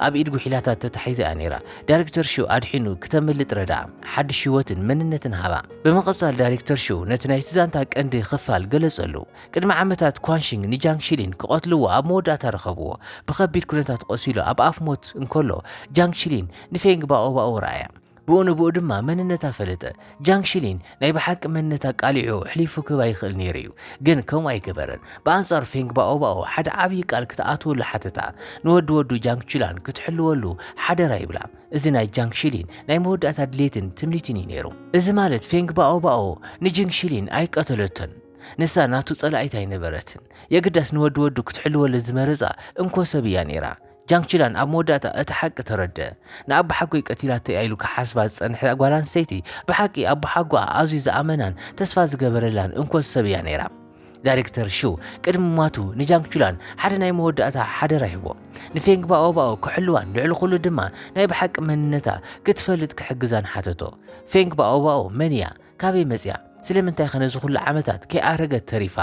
ኣብ ኢድ ጉሒላታት ተታሒዛ እያ ነይራ። ዳይረክተር ሹ ኣድሒኑ ክተምልጥ ረድኣ። ሓዱሽ ህይወትን መንነትን ሃባ። ብምቕጻል ዳይረክተር ሹ ነቲ ናይቲ ዛንታ ቀንዲ ክፋል ገለጸሉ። ቅድሚ ዓመታት ኳንሺንግ ንጃንግ ሺሊን ክቐትልዎ ኣብ መወዳእታ ረኸብዎ። ብኸቢድ ኩነታት ቆሲሉ ኣብ ኣፍ ሞት እንከሎ፣ ጃንግ ሺሊን ንፌንግ ባኦባኦ ረኣያ። ብኡ ንብኡ ድማ መንነታ ፈለጠ። ጃንግ ሺሊን ናይ ብሓቂ መንነት ኣቃሊዑ ኣሕሊፉ ክህባ ይኽእል ነይሩ እዩ። ግን ከምኡ ኣይገበረን። ብኣንጻሩ ፌንግ ባኦባኦ ሓደ ዓብዪ ቃል ክትኣትወሉ ሓተታ። ንወዲ ወዱ ጃንግ ቺላን ክትሕልወሉ ሓደራ ይብላ። እዚ ናይ ጃንግ ሺሊን ናይ መወዳእታ ድሌትን ትምኒትን እዩ ነይሩ። እዚ ማለት ፌንግ ባኦባኦ ንጅንግ ሺሊን ኣይቀተለቶን። ንሳ ናቱ ጸላኢት ኣይነበረትን፣ የግዳስ ንወዲ ወዱ ክትሕልወሉ ዝመረጻ እንኮ ሰብ እያ ነይራ። ጃንግ ቺላን ኣብ መወዳእታ እቲ ሓቂ ተረድኣ። ንኣቦሓጎይ ቀቲላቶ እያ ኢሉ ክሓስባ ዝጸንሐ ጓል ኣንስተይቲ፣ ብሓቂ ኣቦሓጎኣ ኣዝዩ ዝኣመናን ተስፋ ዝገበረላን እንኮ ሰብ እያ ነይራ። ዳይሬክተር ሹ ቅድሚ ምሟቱ ንጃንግ ቹላን ሓደ ናይ መወዳእታ ሓደራ ይህቦ። ንፌንግ ባኦባኦ ክሕልዋን ልዕሊ ኩሉ ድማ ናይ ብሓቂ መንነታ ክትፈልጥ ክሕግዛን ሓተቶ። ፌንግ ባኦባኦ መን እያ? ካበይ መጺኣ? ስለምንታይከ ነዚ ኩሉ ዓመታት ከይኣረገት ተሪፋ?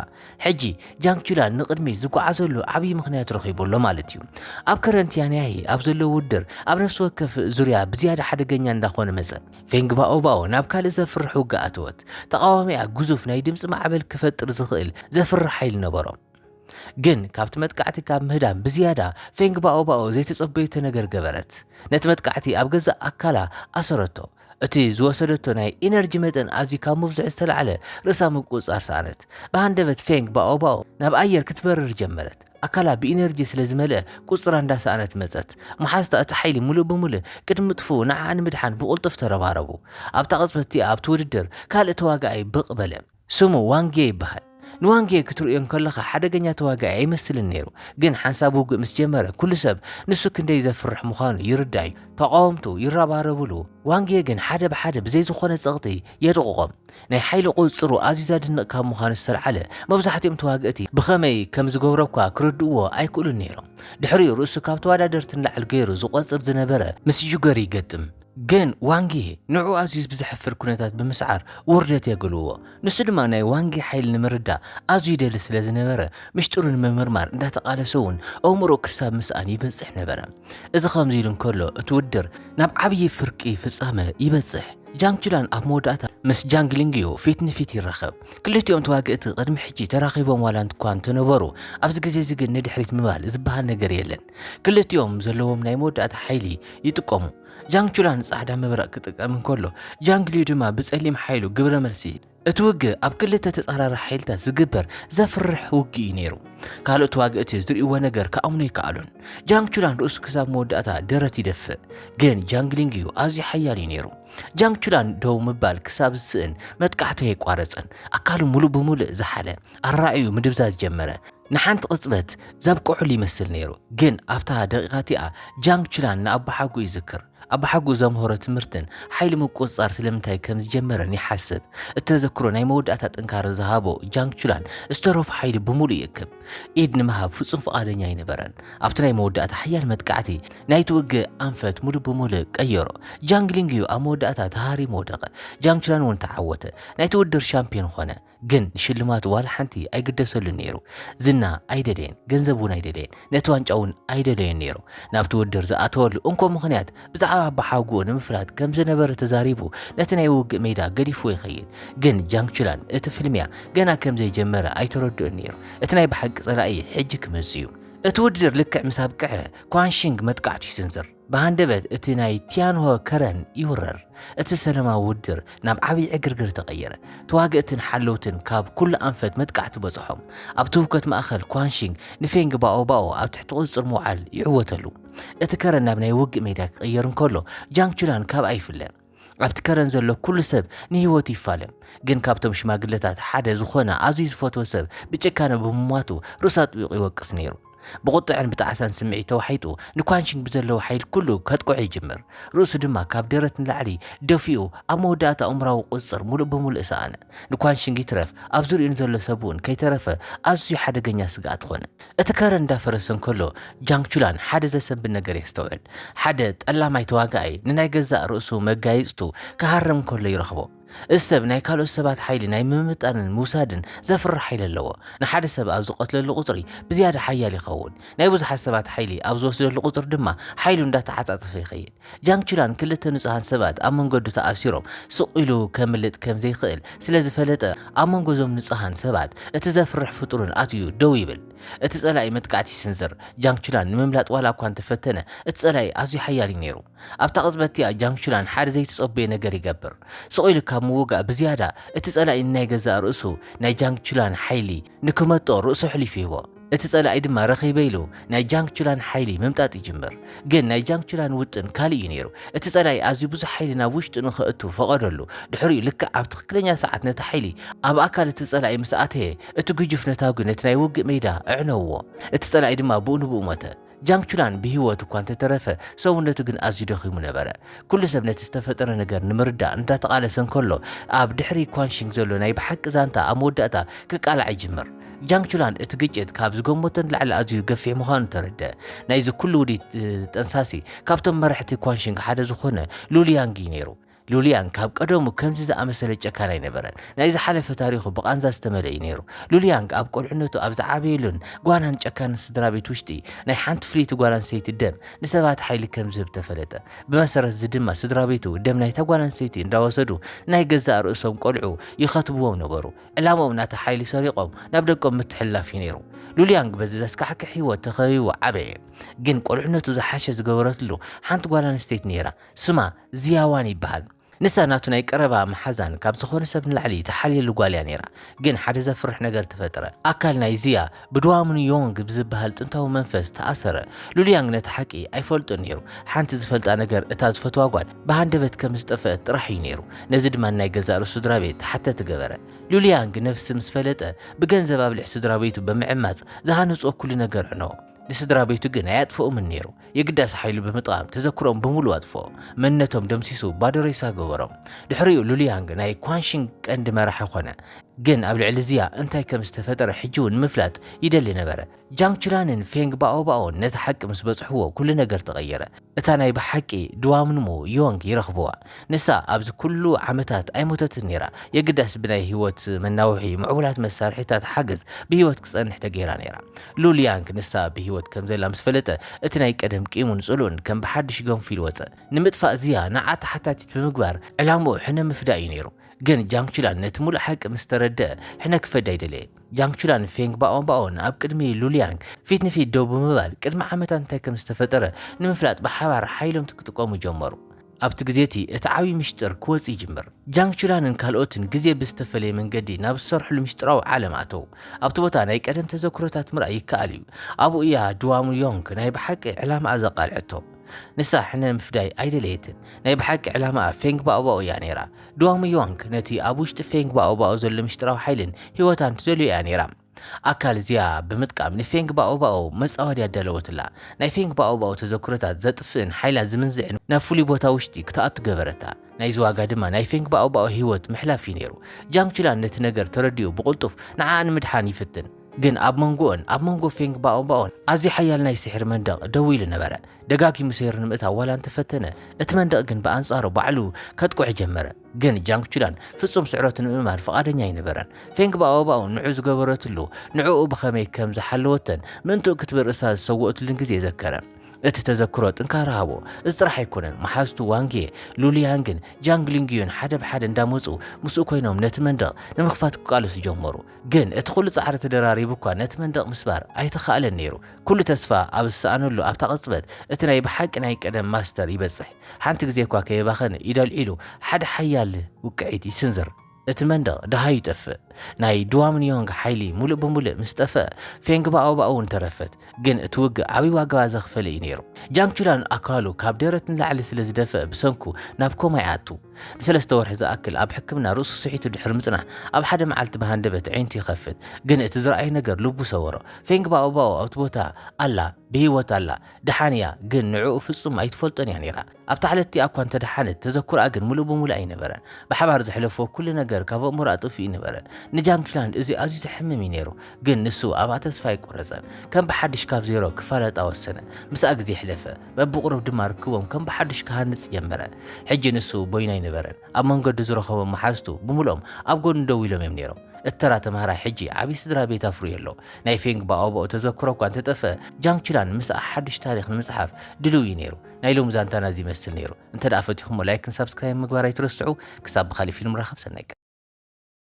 ሕጂ ጃንግቹላን ንቕድሚት ዝጓዓዘሉ ዓብዪ ምኽንያት ረኺቡ ኣሎ ማለት እዩ። ኣብ ከረን ቲያንያሂ ኣብ ዘሎ ውድድር ኣብ ነፍሲ ወከፍ ዙርያ ብዝያዳ ሓደገኛ እንዳኾነ መጸ። ፌንግ ባኦባኦ ናብ ካልእ ዘፍርሕ ውግእ ኣተወት። ተቓዋሚኣ ግዙፍ ናይ ድምጺ ማዕበል ክፈጥር ዝኽእል ዘፍርሕ ሓይሊ ነበሮ። ግን ካብቲ መጥቃዕቲ ካብ ምህዳም ብዝያዳ ፌንግ ባኦባኦ ዘይተጸበዩቶ ነገር ገበረት። ነቲ መጥቃዕቲ ኣብ ገዛእ ኣካላ ኣሰረቶ። እቲ ዝወሰደቶ ናይ ኢነርጂ መጠን ኣዝዩ ካብ ምብዝሑ ዝተላዕለ ርእሳ ምቁጽጻር ሰኣነት። ብሃንደበት ፌንግ ባኦባኦ ናብ ኣየር ክትበርር ጀመረት። ኣካላ ብኢነርጂ ስለ ዝመልአ ቁጽጽራ እንዳሰኣነት መጸት። መሓዝታ እቲ ሓይሊ ምሉእ ብምሉእ ቅድሚ ምጥፍኡ ንዓኣ ንምድሓን ብቕልጡፍ ተረባረቡ። ኣብታ ቅጽበት እቲኣ ኣብቲ ውድድር ካልእ ተዋጋኣይ ብቕ በለ። ስሙ ዋንጌ ይበሃል። ንዋንጌ ክትርእዮ እንከለኻ ሓደገኛ ተዋጋኢ ኣይመስልን ነይሩ፣ ግን ሓንሳብ ውግእ ምስ ጀመረ ኩሉ ሰብ ንሱ ክንደይ ዘፍርሕ ምዃኑ ይርዳእ'ዩ። ተቓወምቱ ይረባረብሉ፣ ዋንጌ ግን ሓደ ብሓደ ብዘይ ዝኾነ ጸቕጢ የድቕቖም። ናይ ሓይሊ ቁጽጽሩ ኣዝዩ ዘድንቕ ካብ ምዃኑ ዝተልዓለ መብዛሕትኦም ተዋግእቲ ብኸመይ ከም ዝገብሮ'ኳ ክርድእዎ ኣይክእሉን ነይሮም። ድሕሪኡ ርእሱ ካብ ተወዳደርቲ ንላዕሊ ገይሩ ዝቖጽር ዝነበረ ምስ ጁገር ይገጥም። ግን ዋንጊ ንዕኡ ኣዝዩ ብዘሕፍር ኩነታት ብምስዓር ውርደት የግልዎ። ንሱ ድማ ናይ ዋንጊ ሓይሊ ንምርዳእ ኣዝዩ ይደሊ ስለ ዝነበረ ምሽጥሩ ንምምርማር እንዳተቓለሰ እውን ኣእምሮኡ ክሳብ ምስኣን ይበጽሕ ነበረ። እዚ ከምዚ ኢሉ እንከሎ እቲ ውድድር ናብ ዓብዪ ፍርቂ ፍጻመ ይበጽሕ። ጃንግ ቹላን ኣብ መወዳእታ ምስ ጃንግ ሊንግዩ ፊት ንፊት ይራኸብ። ክልቲኦም ተዋግእቲ ቅድሚ ሕጂ ተራኺቦም ዋላ እኳ እንተነበሩ ኣብዚ ግዜ እዚ ግን ንድሕሪት ምባል ዝበሃል ነገር የለን። ክልቲኦም ዘለዎም ናይ መወዳእታ ሓይሊ ይጥቀሙ። ጃንግ ቹላ ንጻዕዳ መብረቕ ክጥቀም እንከሎ፣ ጃንግ ሊዩ ድማ ብጸሊም ሓይሉ ግብረ መልሲ ይህብ። እቲ ውግእ ኣብ ክልተ ተጻራሪ ሓይልታት ዝግበር ዘፍርሕ ውግእ እዩ ነይሩ። ካልኦት ተዋግእቲ ዝርእይዎ ነገር ክኣምኑ ኣይከኣሉን። ጃንግ ቹላን ርእሱ ክሳብ መወዳእታ ደረት ይደፍእ፣ ግን ጃንግ ሊንግ እዩ ኣዝዩ ሓያል እዩ ነይሩ። ጃንግ ቹላን ደው ምባል ክሳብ ዝስእን መጥቃዕቱ ኣየቋረጸን። ኣካሉ ምሉእ ብምሉእ ዝሓለ፣ ኣረኣእዩ ምድብዛዝ ጀመረ። ንሓንቲ ቅጽበት ዘብቅዕሉ ይመስል ነይሩ፣ ግን ኣብታ ደቂቓ እቲኣ ጃንግ ቹላን ንኣቦሓጎኡ ይዝክር። ኣቦሓጎኡ ዘምሀሮ ትምህርትን ሓይሊ ምቁጽጻር ስለምንታይ ከም ዝጀመረን ይሓስብ። እቲ ተዘክሮ ናይ መወዳእታ ጥንካረ ዝሃቦ ጃንግ ቹላን ዝተረፎ ሓይሊ ብምሉእ ይእክብ። ኢድ ንምሃብ ፍጹም ፍቓደኛ ኣይነበረን። ኣብቲ ናይ መወዳእታ ሓያል መጥቃዕቲ ናይቲ ውግእ ኣንፈት ምሉእ ብምሉእ ቀየሮ። ጃንግ ሊንግ እዩ ኣብ መወዳእታ ተሃሪሙ ወደቐ። ጃንግ ቹላን እውን ተዓወተ፣ ናይቲ ውድድር ሻምፕዮን ኾነ። ግን ንሽልማቱ ዋላ ሓንቲ ኣይግደሰሉን ነይሩ። ዝና ኣይደለየን፣ ገንዘብ እውን ኣይደለየን፣ ነቲ ዋንጫ እውን ኣይደለዮን ነይሩ። ናብቲ ውድድር ዝኣተወሉ እንኮ ምኽንያት ብዛዕባ ኣባሓጉኡ ንምፍላጥ ከም ዝነበረ ተዛሪቡ ነቲ ናይ ውግእ ሜዳ ገዲፍዎ ይኸይድ። ግን ጃንግ ቹላን እቲ ፍልሚያ ገና ከም ዘይጀመረ ኣይተረድኦን ነይሩ። እቲ ናይ ብሓቂ ጸላኢ ሕጂ ክመጽእ እዩ። እቲ ውድድር ልክዕ ምስ ኣብቅዐ፣ ኳን ሺንግ መጥቃዕቱ ይስንዝር። ብሃንደበት እቲ ናይ ቲያንሆ ከረን ይውረር። እቲ ሰለማዊ ውድር ናብ ዓብዪ ዕግርግር ተቐየረ። ተዋገእትን ሓለውትን ካብ ኩሉ ኣንፈት መጥቃዕቲ በጽሖም። ኣብ ትውከት ማእከል ኳንሺንግ ንፌንግ ባኦ ባኦ ኣብ ትሕቲ ቁጽጽር ምውዓል ይዕወተሉ። እቲ ከረን ናብ ናይ ውግእ ሜዳ ክቕየር እንከሎ ጃንግ ቹላን ካብኣ ይፍለ። ኣብቲ ከረን ዘሎ ኩሉ ሰብ ንህይወቱ ይፋለም ግን ካብቶም ሽማግለታት ሓደ ዝኾነ ኣዝዩ ዝፈትዎ ሰብ ብጭካነ ብምሟቱ ርእሱ ኣጥቢቑ ይወቅስ ነይሩ ብቑጥዕን ብጣዕሳን ስምዒት ተዋሒጡ ንኳንሽንግ ብዘለዎ ሓይል ኩሉ ከጥቅዖ ይጅምር ርእሱ ድማ ካብ ደረት ንላዕሊ ደፊኡ ኣብ መወዳእታ ኣእምራዊ ቁፅፅር ሙሉእ ብምሉእ ሰኣነ ንኳንሽንግ ይትረፍ ኣብ ዙሪኡ ንዘሎ ሰብውን ከይተረፈ ኣዝዩ ሓደገኛ ስግኣት ኾነ እቲ ከረን እንዳፈረሰ እንከሎ ጃንግቹላን ሓደ ዘሰንብድ ነገር የስተውዕል። ሓደ ጠላማይ ተዋጋኣይ ንናይ ገዛእ ርእሱ መጋይጽቱ ክሃርም እንከሎ ይረኽቦ። እዚ ሰብ ናይ ካልኦት ሰባት ሓይሊ ናይ ምምጥጣንን ምውሳድን ዘፍርሕ ሓይሊ ኣለዎ። ንሓደ ሰብ ኣብ ዝቐትለሉ ቁጽሪ ብዝያዳ ሓያል ይኸውን። ናይ ብዙሓት ሰባት ሓይሊ ኣብ ዝወስደሉ ቁጽሪ ድማ ሓይሉ እንዳተዓጻጸፈ ይኸይድ። ጃንግ ቹላን ክልተ ንጹሃን ሰባት ኣብ መንገዱ ተኣሲሮም ስቕ ኢሉ ከምልጥ ከም ዘይክእል ስለ ዝፈለጠ፣ ኣብ መንጎ እዞም ንጹሃን ሰባት እቲ ዘፍርሕ ፍጡርን ኣትዩ ደው ይብል። እቲ ጸላኢ መጥቃዕቲ ይስንዝር። ጃንግ ቹላን ንምምላጥ ዋላ እኳ እንተ ፈተነ፣ እቲ ጸላኢ ኣዝዩ ሓያል እዩ ነይሩ። ኣብታ ቅጽበት እቲኣ ጃንግ ቹላን ሓደ ዘይተጸበዮ ነገር ይገብር። ስቕ ኢሉ ካብ ምውጋእ ብዝያዳ፣ እቲ ጸላኢ ንናይ ገዛእ ርእሱ፣ ናይ ጃንግ ቹላን ሓይሊ፣ ንክመጦ ርእሱ ኣሕሊፉ ይህቦ። እቲ ጸላኢ ድማ ረኺበ ኢሉ ናይ ጃንግ ቹላን ሓይሊ ምምጣጥ ይጅምር። ግን ናይ ጃንግ ቹላን ውጥን ካልእ እዩ ነይሩ። እቲ ጸላኢ ኣዝዩ ብዙሕ ሓይሊ ናብ ውሽጡ ንኸእቱ ፈቐደሉ። ድሕሪኡ ልክዕ ኣብ ትኽክለኛ ሰዓት ነቲ ሓይሊ ኣብ ኣካል እቲ ጸላኢ ምስ ኣተየ፣ እቲ ግጁፍ ነታጒ ነቲ ናይ ውግእ ሜዳ ኣዕነውዎ። እቲ ጸላኢ ድማ ብኡ ንብኡ ሞተ። ጃንግ ቹላን ብህይወት እኳ እንተ ተረፈ፣ ሰውነቱ ግን ኣዝዩ ደኺሙ ነበረ። ኵሉ ሰብ ነቲ ዝተፈጥረ ነገር ንምርዳእ እንዳተቓለሰ እንከሎ፣ ኣብ ድሕሪ ኳን ሺንግ ዘሎ ናይ ብሓቂ ዛንታ ኣብ መወዳእታ ክቃላዕ ይጅምር። ጃንግ ቹላን እቲ ግጭት ካብ ዝገመቶ ንላዕሊ ኣዝዩ ገፊሕ ምዃኑ ተረድኣ። ናይዚ ኵሉ ውዲት ጠንሳሲ ካብቶም መራሕቲ ኳን ሺንግ ሓደ ዝዀነ ሉ ሊያንግ እዩ ነይሩ። ሉልያን ካብ ቀደሙ ከምዚ ዝኣመሰለ ጨካን ኣይነበረን። ናይ ዝሓለፈ ታሪኹ ብቓንዛ ዝተመልአ እዩ ነይሩ። ሉልያንግ ኣብ ቈልዕነቱ ኣብ ዝዓበየሉን ጓናን ጨካንን ስድራቤት ውሽጢ፣ ናይ ሓንቲ ፍልይቲ ጓል ኣንስተይቲ ደም ንሰባት ሓይሊ ከም ዝህብ ተፈለጠ። ብመሰረት እዚ ድማ ስድራቤቱ ደም ናይታ ጓል ኣንስተይቲ እንዳወሰዱ ናይ ገዛእ ርእሶም ቈልዑ ይኸትብዎም ነበሩ። ዕላምኦም ናታ ሓይሊ ሰሪቖም ናብ ደቆም ምትሕልላፍ እዩ ነይሩ። ሉልያንግ በዚ ዘስካሕክሕ ህይወት ተኸቢቡ ዓበየ። ግን ቈልዕነቱ ዝሓሸ ዝገበረትሉ ሓንቲ ጓል ኣንስተይቲ ነይራ። ስማ ዝያዋን ይበሃል። ንሳ ናቱ ናይ ቀረባ መሓዛን ካብ ዝኾነ ሰብ ንላዕሊ ትሓልየሉ ጓል እያ ነይራ። ግን ሓደ ዘፍርሕ ነገር ተፈጥረ። ኣካል ናይ ዝያ ብድዋምኑ ዮንግ ብዝበሃል ጥንታዊ መንፈስ ተኣሰረ። ሉልያንግ ነቲ ሓቂ ኣይፈልጦን ነይሩ። ሓንቲ ዝፈልጣ ነገር እታ ዝፈትዋ ጓል ብሃንደበት ከም ዝጠፈአት ጥራሕ እዩ ነይሩ። ነዚ ድማ ንናይ ገዛእ ርእሱ ስድራቤት ተሓተቲ ገበረ። ሉልያንግ ነብሲ ምስ ፈለጠ ብገንዘብ ኣብልሕ ስድራቤቱ ብምዕማጽ ዝሃነጾ ኩሉ ነገር ዕኖ። ንስድራ ቤቱ ግን ኣየጥፍኦምን ነይሩ። የግዳስ ሓይሉ ብምጥቓም ተዘክሮኦም ብምሉኡ ኣጥፍኦ። መንነቶም ደምሲሱ ባዶ ሬሳ ገበሮም። ድሕሪኡ ሉሊያንግ ናይ ኳንሺንግ ቀንዲ መራሒ ዀነ። ግን ኣብ ልዕሊ ዚያ እንታይ ከም ዝተፈጠረ ሕጂ'ውን ንምፍላጥ ይደሊ ነበረ። ጃንግ ቹላንን ፌንግ ባኦባኦን ነቲ ሓቂ ምስ በጽሑዎ ኵሉ ነገር ተቐየረ። እታ ናይ ብሓቂ ድዋምንሙ ዮንግ ይረኽብዋ ንሳ ኣብዚ ኩሉ ዓመታት ኣይሞተትን ነይራ የግዳስ ብናይ ህይወት መናውሒ ምዕቡላት መሳርሒታት ሓገዝ ብህይወት ክጸንሕ ተገይራ ነይራ ሉል ያንግ ንሳ ብህይወት ከም ዘላ ምስ ፈለጠ እቲ ናይ ቀደም ቂሙን ጽልኡን ከም ብሓድሽ ገንፉ ኢሉ ወጸ ንምጥፋእ ዝያ ንዓ ተሓታቲት ብምግባር ዕላምኡ ሕነ ምፍዳእ እዩ ነይሩ ግን ጃንግ ቺላን ነቲ ምሉእ ሓቂ ምስ ተረድኣ ሕነ ክፈዲ ኣይደለየን። ጃንግ ቹላን ፌንግ ባኦንባኦን ኣብ ቅድሚ ሉሊያንግ ፊት ንፊት ደው ብምባል ቅድሚ ዓመታት እንታይ ከም ዝተፈጠረ ንምፍላጥ ብሓባር ሓይሎምት ክጥቀሙ ጀመሩ። ኣብቲ ግዜ እቲ እቲ ዓብዪ ምስጢር ክወጽእ ይጅምር። ጃንግ ቹላንን ካልኦትን ግዜ ብዝተፈለየ መንገዲ ናብ ዝሰርሕሉ ምስጢራዊ ዓለም ኣተዉ። ኣብቲ ቦታ ናይ ቀደም ተዘክሮታት ምርኣይ ይከኣል እዩ። ኣብኡ እያ ድዋሙ ዮንግ ናይ ብሓቂ ዕላማኣ ዘቃልዐቶ። ንሳ ሕነ ምፍዳይ ኣይደለየትን። ናይ ብሓቂ ዕላማኣ ፌንግ ባኦባኦ እያ ነይራ። ድዋሙ ዮዋንግ ነቲ ኣብ ውሽጢ ፌንግ ባኦባኦ ዘሎ ምስጢራዊ ሓይልን ህይወታን ትደልዮ እያ ነይራ። ኣካል እዚኣ ብምጥቃም ንፌንግ ባኦባኦ መጻወዲ ኣዳለወትላ። ናይ ፌንግ ባኦባኦ ተዘክሮታት ዘጥፍእን ሓይላ ዝምንዝዕን ናብ ፍሉይ ቦታ ውሽጢ ክትኣቱ ገበረታ። ናይዚ ዋጋ ድማ ናይ ፌንግ ባኦባኦ ህይወት ምሕላፍ እዩ ነይሩ። ጃንግ ቹላን ነቲ ነገር ተረዲኡ ብቕልጡፍ ንዓኣ ንምድሓን ይፍትን። ግን ኣብ መንጎኡን ኣብ መንጎ ፌንግ ባኦባኦን ኣዝዩ ሓያል ናይ ስሕሪ መንደቕ ደው ኢሉ ነበረ። ደጋጊሙ ሰይሩ ንምእታው ዋላ እንተፈተነ፣ እቲ መንደቕ ግን ብኣንጻሩ ባዕሉ ከጥቅዑ ጀመረ። ግን ጃንግ ቹላን ፍጹም ስዕረቱ ንምእማን ፍቓደኛ ኣይነበረን። ፌንግ ባኦባኦ ንዑ ዝገበረትሉ፣ ንዕኡ ብኸመይ ከም ዝሓለወቶን ምእንትኡ ክትብል ርእሳ ዝሰወኡትሉን ግዜ ዘከረ። እቲ ተዘክሮ ጥንካረ ሃቦ። እዚ ጥራሕ ኣይኮነን፣ መሓዝቱ ዋንግዬ፣ ሉሊያንግን ጃንግ ሊንግዩን ሓደ ብሓደ እንዳመጹ ምስኡ ኮይኖም ነቲ መንደቕ ንምኽፋት ክቃለሱ ጀመሩ። ግን እቲ ኩሉ ጻዕሪ ተደራሪቡ እኳ ነቲ መንደቕ ምስባር ኣይተኻእለን ነይሩ። ኩሉ ተስፋ ኣብ ዝሰኣነሉ ኣብታ ቅጽበት፣ እቲ ናይ ብሓቂ ናይ ቀደም ማስተር ይበጽሕ። ሓንቲ ግዜ እኳ ከየባኸነ ኢዱ ኣልዒሉ ሓደ ሓያል ውቅዒት ይስንዝር። እቲ መንደቕ ደሃዩ ይጠፍእ። ናይ ድዋምንዮንግ ሓይሊ ሙሉእ ብሙሉእ ምስ ጠፍኣ፣ ፌንግ ባኦ ባኦ እውን ተረፈት። ግን እቲ ውግእ ዓብይ ዋጋ ዘኽፈለ እዩ ነይሩ። ጃንግ ቹላን ኣካሉ ካብ ደረት ንላዕሊ ስለ ዝደፈእ ብሰንኩ ናብ ኮማ ይኣቱ። ንሰለስተ ወርሒ ዝኣክል ኣብ ሕክምና ርእሱ ስሒቱ ድሕሪ ምጽናሕ፣ ኣብ ሓደ መዓልቲ ብሃንደበት ኣዒንቱ ይኸፍት። ግን እቲ ዝረኣዮ ነገር ልቡ ሰበሮ። ፌንግ ባኦባኦ ኣብቲ ቦታ ኣላ፣ ብህይወት ኣላ፣ ደሓን እያ፣ ግን ንዕኡ ፍጹም ኣይትፈልጦን እያ ነይራ። ኣብታ ዕለት እቲኣ እኳ እንተ ደሓነት፣ ተዘክሮኣ ግን ምሉእ ብምሉእ ኣይነበረን። ብሓባር ዘሕለፍዎ ኩሉ ነገር ካብ ኣእምሮኣ ጠፊኡ ነበረ። ንጃንግክላንድ እዚ ኣዝዩ ዘሕምም እዩ ነይሩ፣ ግን ንሱ ኣብኣ ተስፋ ኣይቈረጸን። ከም ብሓድሽ ካብ ዜሮ ክፋለጣ ወሰነ። ምስኣ ግዜ ኣሕለፈ። በብቑሩብ ድማ ርክቦም ከም ብሓዱሽ ክሃንጽ ጀመረ። ሕጂ ንሱ በይኑ ኣይነበረን። ኣብ መንገዱ ዝረኸቦም መሓዝቱ ብምሉኦም ኣብ ጎድኑ ደው ኢሎም እዮም ነይሮም። እቲ ተራ ተምሃራይ ሕጂ ዓቢ ስድራ ቤት ኣፍርዩ ኣሎ። ናይ ፌንግ ባኦባኦ ተዘክሮ እኳ እንተ ጠፍአ፣ ጃንግ ቹላን ምስኣ ሓዱሽ ታሪኽ ንምጽሓፍ ድሉው እዩ ነይሩ። ናይ ሎሚ ዛንታና እዚ ይመስል ነይሩ። እንተድኣ ፈቲኹሞ ላይክን ሳብስክራይብን ምግባር ኣይትረስዑ። ክሳብ ብኻልእ ፊልም ንራኸብ ሰናይ ቀን።